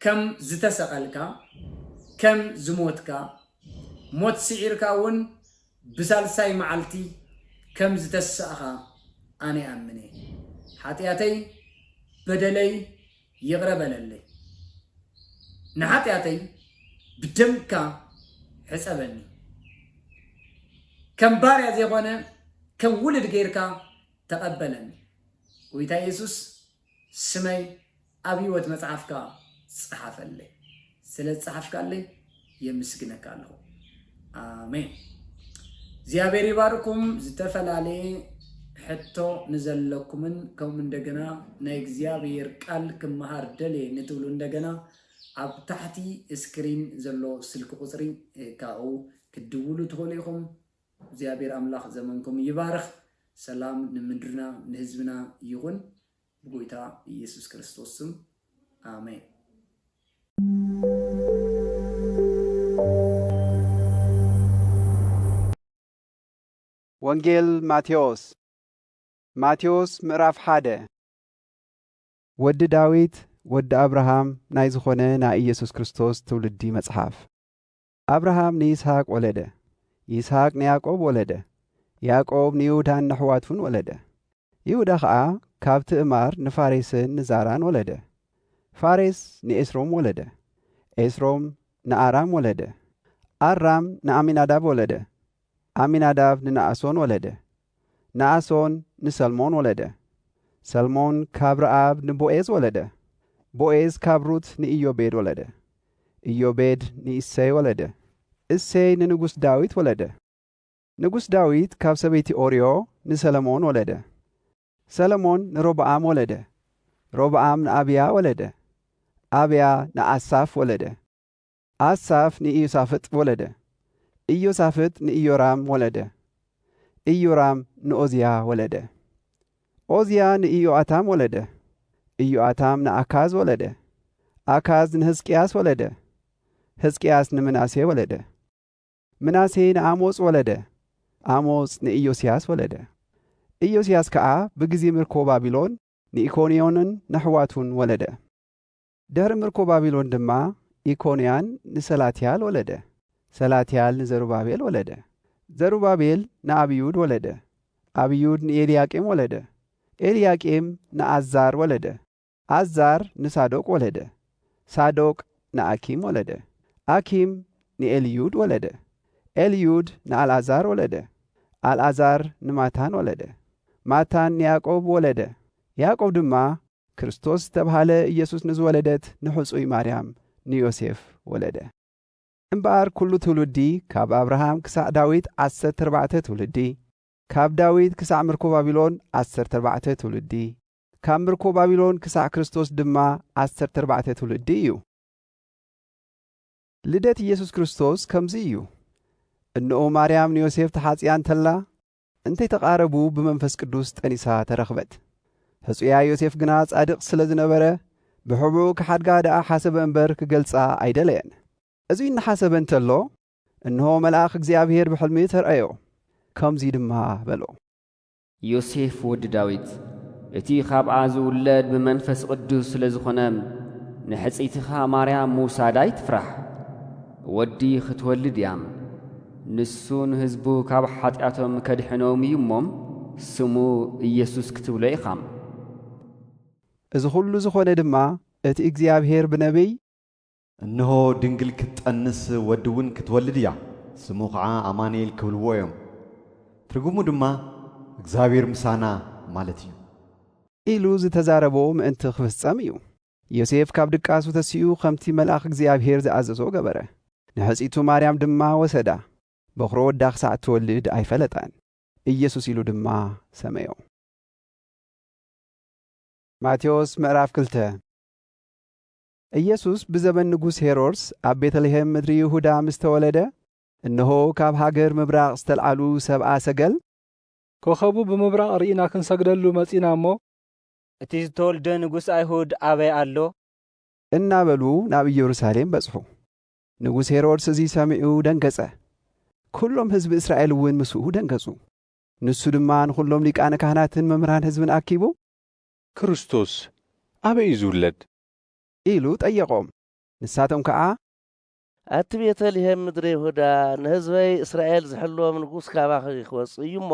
S1: ከም ዝተሰቐልካ ከም ዝሞትካ ሞት ስዒርካ እውን ብሳልሳይ መዓልቲ ከም ዝተስኣኻ ኣነ እኣምን እየ። ሓጢኣተይ በደለይ ይቕረ በለለይ። ንሓጢኣተይ ብደምካ ሕጸበኒ። ከም ባርያ ዘይኮነ ከም ውሉድ ገይርካ ተቐበለኒ። ጎይታ የሱስ ስመይ ኣብ ህይወት መጽሓፍካ ጽሓፈለይ ስለ ዝጸሓፍካለይ የምስግነካ ኣለኹ ኣሜን እግዚኣብሔር ይባርኩም ዝተፈላለየ ሕቶ ንዘለኩምን ከምኡ እንደገና ናይ እግዚኣብሔር ቃል ክመሃር ደልየ ንትብሉ እንደገና ኣብ ታሕቲ ስክሪን ዘሎ ስልኪ ቁፅሪ ካብኡ ክትድውሉ ትኽእሉ ኢኹም እግዚኣብሔር ኣምላክ ዘመንኩም ይባርክ ሰላም ንምድርና ንህዝብና ይኩን ብጎይታ እየሱስ ክርስቶስ ስም ኣሜን።
S2: ወንጌል ማቴዎስ ማቴዎስ ምዕራፍ ሓደ ወዲ ዳዊት ወዲ ኣብርሃም ናይ ዝኾነ ናይ ኢየሱስ ክርስቶስ ትውልዲ መጽሓፍ ኣብርሃም ንይስሃቅ ወለደ፣ ይስሃቅ ንያእቆብ ወለደ፣ ያእቆብ ንይሁዳን ነሕዋቱን ወለደ፣ ይሁዳ ኸኣ ካብ ትእማር ንፋሬስን ንዛራን ወለደ፣ ፋሬስ ንኤስሮም ወለደ፣ ኤስሮም ንኣራም ወለደ፣ ኣራም ንኣሚናዳብ ወለደ፣ ኣሚናዳብ ንነኣሶን ወለደ፣ ንኣሶን ንሰልሞን ወለደ። ሰልሞን ካብ ረኣብ ንቦኤዝ ወለደ። ቦኤዝ ካብ ሩት ንኢዮቤድ ወለደ። ኢዮቤድ ንእሴይ ወለደ። እሴይ ንንጉስ ዳዊት ወለደ። ንጉስ ዳዊት ካብ ሰበይቲ ኦርዮ ንሰለሞን ወለደ። ሰለሞን ንሮብኣም ወለደ። ሮብኣም ንኣብያ ወለደ። ኣብያ ንኣሳፍ ወለደ። ኣሳፍ ንኢዮሳፍጥ ወለደ። ኢዮሳፍጥ ንኢዮራም ወለደ። ኢዮራም ንኦዝያ ወለደ። ኦዝያ ንኢዮኣታም ወለደ። ኢዮኣታም ንኣካዝ ወለደ። ኣካዝ ንህዝቅያስ ወለደ። ህዝቅያስ ንምናሴ ወለደ። ምናሴ ንኣሞጽ ወለደ። ኣሞጽ ንኢዮስያስ ወለደ። ኢዮስያስ ከኣ ብግዜ ምርኮ ባቢሎን ንኢኮንዮንን ነሕዋቱን ወለደ። ድሕሪ ምርኮ ባቢሎን ድማ ኢኮንያን ንሰላትያል ወለደ፣ ሰላትያል ንዘሩባቤል ወለደ፣ ዘሩባቤል ንኣብዩድ ወለደ፣ ኣብዩድ ንኤልያቄም ወለደ፣ ኤልያቄም ንኣዛር ወለደ፣ ኣዛር ንሳዶቅ ወለደ፣ ሳዶቅ ንኣኪም ወለደ፣ ኣኪም ንኤልዩድ ወለደ፣ ኤልዩድ ንኣልኣዛር ወለደ፣ ኣልኣዛር ንማታን ወለደ፣ ማታን ንያዕቆብ ወለደ፣ ያዕቆብ ድማ ክርስቶስ ዝተብሃለ ኢየሱስ ንዝወለደት ንሕጹይ ማርያም ንዮሴፍ ወለደ። እምበኣር ኩሉ ትውልዲ ካብ ኣብርሃም ክሳዕ ዳዊት ዓሰርተ ኣርባዕተ ትውልዲ፣ ካብ ዳዊት ክሳዕ ምርኮ ባቢሎን ዓሰርተ ኣርባዕተ ትውልዲ፣ ካብ ምርኮ ባቢሎን ክሳዕ ክርስቶስ ድማ ዓሰርተ ኣርባዕተ ትውልዲ እዩ። ልደት ኢየሱስ ክርስቶስ ከምዚ እዩ። እንኡ ማርያም ንዮሴፍ ተሓጽያ እንተላ እንተይተቓረቡ ብመንፈስ ቅዱስ ጠኒሳ ተረኽበት። ሕጹያ ዮሴፍ ግና ጻድቕ ስለ ዝነበረ ብሕቡእ ክሓድጋ ደኣ ሓሰበ እምበር ክገልጻ ኣይደለየን። እዙይ እናሓሰበ እንተሎ እንሆ መልኣኽ እግዚኣብሄር ብሕልሚ ተርኣዮ፣ ከምዙይ ድማ በሎ። ዮሴፍ
S3: ወዲ ዳዊት እቲ ኻብኣ ዝውለድ ብመንፈስ ቕዱስ ስለ ዝኾነ ንሕጽይትኻ ማርያም ምውሳድ ኣይትፍራሕ፣ ወዲ ኽትወልድ እያ። ንሱ ንህዝቡ ካብ ሓጢኣቶም ከድሕኖም እዩ እሞ ስሙ ኢየሱስ ክትብሎ ኢኻ።
S2: እዚ ዅሉ ዝዀነ ድማ እቲ እግዚኣብሄር ብነብይ። እንሆ፣
S4: ድንግል ክትጠንስ ወዲ እውን ክትወልድ እያ፣ ስሙ ኸዓ ኣማኑኤል ክብልዎ እዮም፣ ትርጉሙ ድማ እግዚኣብሄር ምሳና ማለት እዩ። ኢሉ
S2: ዝተዛረቦ ምእንቲ ኽፍጸም እዩ። ዮሴፍ ካብ ድቃሱ ተሲኡ ኸምቲ መልኣኽ እግዚኣብሄር ዝኣዘዞ ገበረ። ንሕጽይቱ ማርያም ድማ ወሰዳ። በዅሪ ወዳ ኽሳዕ እትወልድ ኣይፈለጣን። ኢየሱስ ኢሉ ድማ ሰመዮ። ማቴዎስ ምዕራፍ ክልተ ኢየሱስ ብዘበን ንጉስ ሄሮድስ ኣብ ቤተልሔም ምድሪ ይሁዳ ምስ ተወለደ፣ እነሆ ካብ ሃገር ምብራቕ ዝተልዓሉ ሰብኣ ሰገል፣ ኮኸቡ
S5: ብምብራቕ ርኢና ክንሰግደሉ መጺእና እሞ፣ እቲ
S6: ዝተወልደ ንጉሥ ኣይሁድ ኣበይ ኣሎ? እናበሉ
S2: ናብ ኢየሩሳሌም በጽሑ። ንጉሥ ሄሮድስ እዚ ሰሚዑ ደንገጸ፣ ኵሎም ሕዝቢ እስራኤልውን ምስኡ ደንገጹ። ንሱ ድማ ንዅሎም ሊቃነ ካህናትን መምህራን ሕዝብን ኣኪቡ። ክርስቶስ
S7: ኣበይ እዩ ዝውለድ? ኢሉ
S2: ጠየቖም። ንሳቶም ከኣ። ኣቲ
S8: ቤተ ልሔም ምድረ ይሁዳ፣ ንሕዝበይ እስራኤል ዚሕልዎም ንጉሥ ካባኺ ኺወጽእ እዩ እሞ፣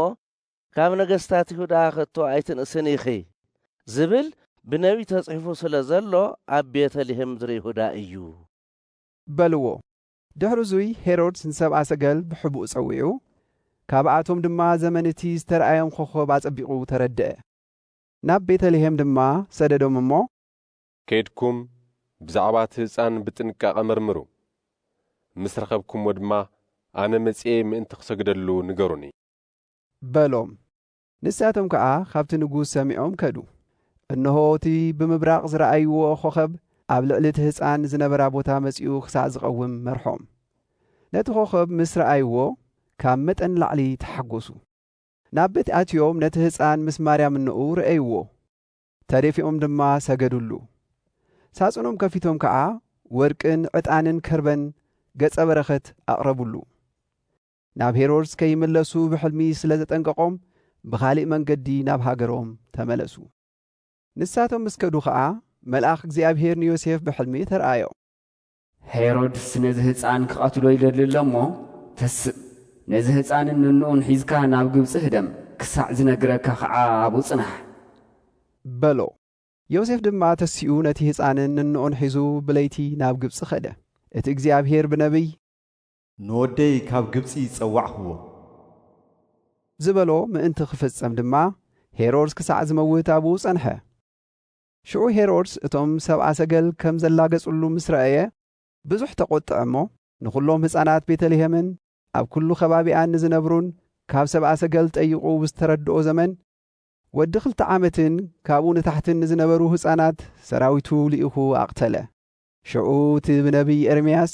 S8: ካብ ነገስታት ይሁዳ ከቶ ኣይትንእስን ኢኺ ዝብል ብነቢይ ተጽሒፉ ስለ ዘሎ ኣብ ቤተ ልሔም ምድሪ ይሁዳ እዩ።
S2: በልዎ። ድሕሪ እዙይ ሄሮድስ ንሰብኣ ሰገል ብሕቡእ ጸዊዑ፣ ካብኣቶም ድማ ዘመን እቲ ዝተርኣዮም ኾኾብ ኣጸቢቑ ተረድኣ። ናብ ቤተ ልሔም ድማ ሰደዶም እሞ። ከይድኩም
S7: ብዛዕባ እቲ ህጻን ብጥንቃቐ መርምሩ፣ ምስ ረኸብኩምዎ ድማ ኣነ መጺኤ ምእንቲ ኽሰግደሉ ንገሩኒ።
S2: በሎም። ንሳቶም ከኣ ኻብቲ ንጉስ ሰሚዖም ከዱ። እንሆ፣ እቲ ብምብራቕ ዝረኣይዎ ኾኸብ ኣብ ልዕሊ እቲ ህፃን ዝነበራ ቦታ መፂኡ ኽሳዕ ዝቐውም መርሖም። ነቲ ኾኸብ ምስ ረኣይዎ ካብ መጠን ንላዕሊ ተሓጐሱ። ናብ ቤት ኣትዮም ነቲ ህፃን ምስ ማርያም እኖኡ ረኣይዎ። ተደፊኦም ድማ ሰገዱሉ። ሳፅኖም ከፊቶም ከዓ ወርቅን ዕጣንን ከርበን ገፀ በረከት ኣቕረቡሉ። ናብ ሄሮድስ ከይምለሱ ብሕልሚ ስለ ዘጠንቀቖም ብኻሊእ መንገዲ ናብ ሃገሮም ተመለሱ። ንሳቶም ምስ ከዱ ኸኣ መልኣኽ እግዚኣብሄር ንዮሴፍ ብሕልሚ ተርኣዮ።
S3: ሄሮድስ ነዚ ህጻን ክቐትሎ ይደሊ ኣሎ እሞ፣ ተስእ፣ ነዚ ህጻንን ንንኡን ሒዝካ ናብ ግብጺ ህደም፣ ክሳዕ ዝነግረካ ኸዓ ኣብኡ ጽናሕ።
S2: በሎ። ዮሴፍ ድማ ተሲኡ ነቲ ህጻንን ንንኡን ሒዙ ብለይቲ ናብ ግብጺ ከደ። እቲ እግዚኣብሄር ብነብይ። ንወደይ
S4: ካብ ግብጺ ጸዋዕክዎ።
S2: ዝበሎ ምእንቲ ኺፍጸም ድማ፣ ሄሮድስ ክሳዕ ዚመውት ኣብኡ ጸንሐ። ሽዑ ሄሮድስ እቶም ሰብኣ ሰገል ከም ዘላገጹሉ ምስ ረኣየ፣ ብዙሕ ተቖጥዐ እሞ፣ ንዅሎም ህጻናት ቤተ ልሄምን ኣብ ኵሉ ኸባቢኣን ንዚነብሩን ካብ ሰብኣ ሰገል ጠይቑ ብዝተረድኦ ዘመን፣ ወዲ ኽልተ ዓመትን ካብኡ ንታሕትን ንዝነበሩ ህጻናት ሰራዊቱ ልኢኹ ኣቕተለ። ሽዑ እቲ ብነብዪ ኤርምያስ።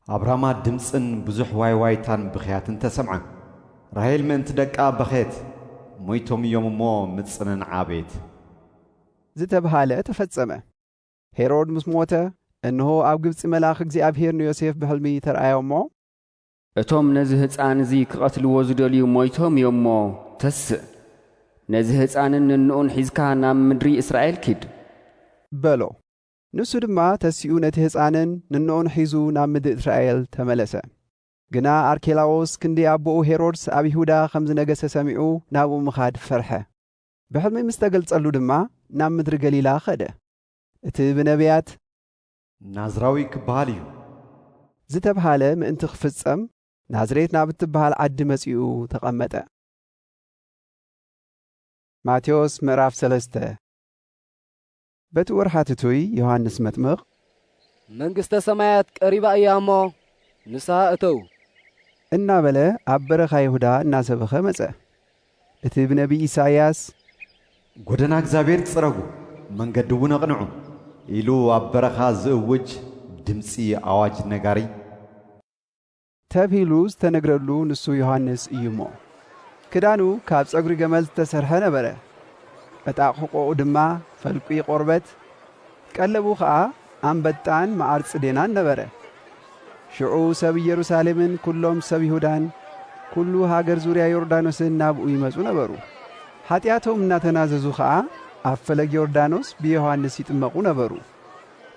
S2: ኣብ
S4: ራማ ድምጽን ብዙሕ ዋይዋይታን ብኽያትን ተሰምዐ። ራሄል ምእንቲ ደቃ በኸየት። ሞይቶም እዮም እሞ ምጽንን ዓቤት።
S2: ዝተብሃለ ተፈጸመ። ሄሮድ ምስ ሞተ፣ እንሆ ኣብ ግብጺ መልኣኽ እግዚኣብሄር ንዮሴፍ ብሕልሚ ተርኣዮ እሞ። እቶም
S3: ነዚ ህጻን እዚ ክቐትልዎ ዝደልዩ ሞይቶም እዮም እሞ ተስእ፣ ነዚ ህጻንን ንንኡን ሒዝካ ናብ ምድሪ እስራኤል ኪድ። በሎ።
S2: ንሱ ድማ ተሲኡ ነቲ ህጻንን ንኖኡን ሒዙ ናብ ምድሪ እስራኤል ተመለሰ። ግና ኣርኬላዎስ ክንዲ ኣቦኡ ሄሮድስ ኣብ ይሁዳ ከም ዝነገሰ ሰሚዑ ናብኡ ምኻድ ፈርሐ። ብሕልሚ ምስ ተገልጸሉ ድማ ናብ ምድሪ ገሊላ ከደ። እቲ ብነብያት።
S4: ናዝራዊ ክበሃል እዩ። ዝተብሃለ
S2: ምእንቲ ክፍጸም ናዝሬት ናብ እትበሃል ዓዲ መጺኡ ተቐመጠ። ማቴዎስ ምዕራፍ ሰለስተ በቲ ወርሓት እቱይ ዮሃንስ መጥምቕ። መንግሥተ
S9: ሰማያት ቀሪባ እያ እሞ ንስሃ እተዉ። እናበለ
S2: ኣብ በረኻ ይሁዳ እናሰበኸ መጸ። እቲ ብነቢይ ኢሳይያስ። ጐደና
S4: እግዚኣብሔር ጽረጉ፣ መንገዲውን ኣቕንዑ፣ ኢሉ ኣብ በረኻ ዝእውጅ ድምጺ ኣዋጅ ነጋሪ። ተብሂሉ
S2: ዝተነግረሉ ንሱ ዮሃንስ እዩ እሞ። ክዳኑ ካብ ጸጉሪ ገመል ዝተሰርሐ ነበረ፣ ዕጣቕሕቆኡ ድማ ፈልቊ ቆርበት፣ ቀለቡ ኸኣ ኣንበጣን መዓር ጽዴናን ነበረ። ሽዑ ሰብ ኢየሩሳሌምን ኵሎም ሰብ ይሁዳን ኵሉ ሃገር ዙርያ ዮርዳኖስን ናብኡ ይመጹ ነበሩ። ሓጢኣቶም እናተናዘዙ ኸኣ ኣብ ፈለግ ዮርዳኖስ ብዮሃንስ ይጥመቑ ነበሩ።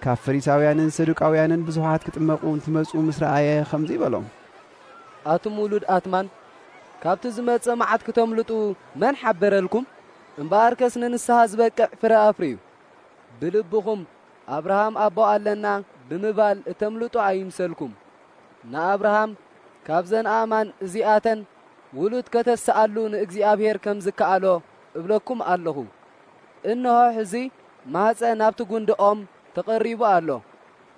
S2: ካብ ፈሪሳውያንን ሰዱቃውያንን ብዙሓት ክጥመቁ እንትመጹ ምስ ረኣየ ከምዚ በሎም፣ ኣቱም
S9: ውሉድ ኣትማን፣ ካብቲ ዝመጽእ መዓት ክተምልጡ መን ሓበረልኩም? እምበኣርከስ ንንስሓ ዝበቅዕ ፍረ ኣፍርዩ። ብልብኹም ኣብርሃም ኣቦ ኣለና ብምባል እተምልጡ ኣይምሰልኩም። ንኣብርሃም ካብዘን ኣእማን እዚኣተን ውሉድ ከተስኣሉ ንእግዚኣብሔር ከም ዝከኣሎ እብለኩም ኣለኹ። እንሆ ሕዚ ማኅፀ ናብቲ ጕንዲ ኦም ተቐሪቡ ኣሎ፣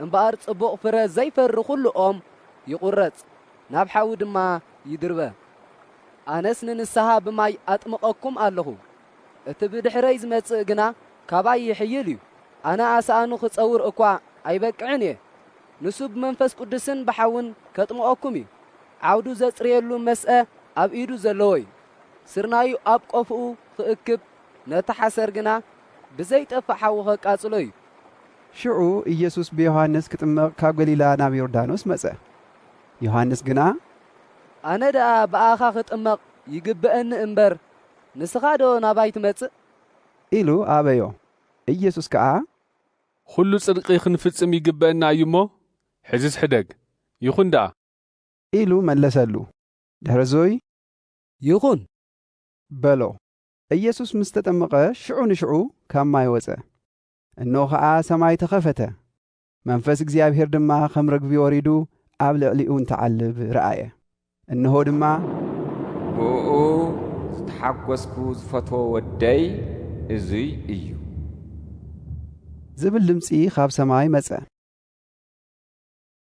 S9: እምበኣር ጽቡቕ ፍረ ዘይፈሪ ዅሉ ኦም ይቝረጽ፣ ናብ ሓዊ ድማ ይድርበ። ኣነስ ንንስሓ ብማይ ኣጥምቐኩም ኣለኹ፣ እቲ ብድኅረይ ዝመጽእ ግና ካባይ ይኅይል እዩ፣ ኣነ ኣስኣኑ ክጸውር እኳ ኣይበቅዕን እየ። ንሱ ብመንፈስ ቅዱስን ብሓውን ኬጥምቐኩም እዩ፣ ዓውዱ ዘጽርየሉ መስአ ኣብ ኢዱ ዘለዎ እዩ፣ ስርናዩ ኣብ ቆፎኡ ኽእክብ ነቲ ሓሰር ግና ብዘይጠፍእ ሓዊ ኼቃጽሎ እዩ። ሽዑ
S2: ኢየሱስ ብዮሃንስ ኪጥመቕ ካብ ገሊላ ናብ ዮርዳኖስ መጸ። ዮሃንስ ግና። ኣነ
S9: ደኣ ብኣኻ ኽጥመቕ ይግብኣኒ እምበር፣ ንስኻዶ ናባይ ትመጽእ? ኢሉ
S2: ኣበዮ። ኢየሱስ ከኣ። ዅሉ
S10: ጽድቂ ኽንፍጽም ይግብኣና እዩ እሞ፣ ሕዝስ ሕደግ። ይኹን ደኣ። ኢሉ
S2: መለሰሉ። ድሕርዙይ።
S9: ይኹን።
S2: በሎ። ኢየሱስ ምስ ተጠምቐ ሽዑ ንሽዑ ካብ ማይ ወጸ። እንሆ ኸኣ ሰማይ ተኸፈተ፣ መንፈስ እግዚኣብሔር ድማ ከም ርግቢ ወሪዱ ኣብ ልዕሊኡ እንትዓልብ ረኣየ። እንሆ ድማ፣ ብእኡ
S3: ዝተሓጐስኩ ዝፈትዎ ወደይ እዙይ
S2: እዩ። ዝብል ድምጺ
S3: ኻብ
S2: ሰማይ መጸ።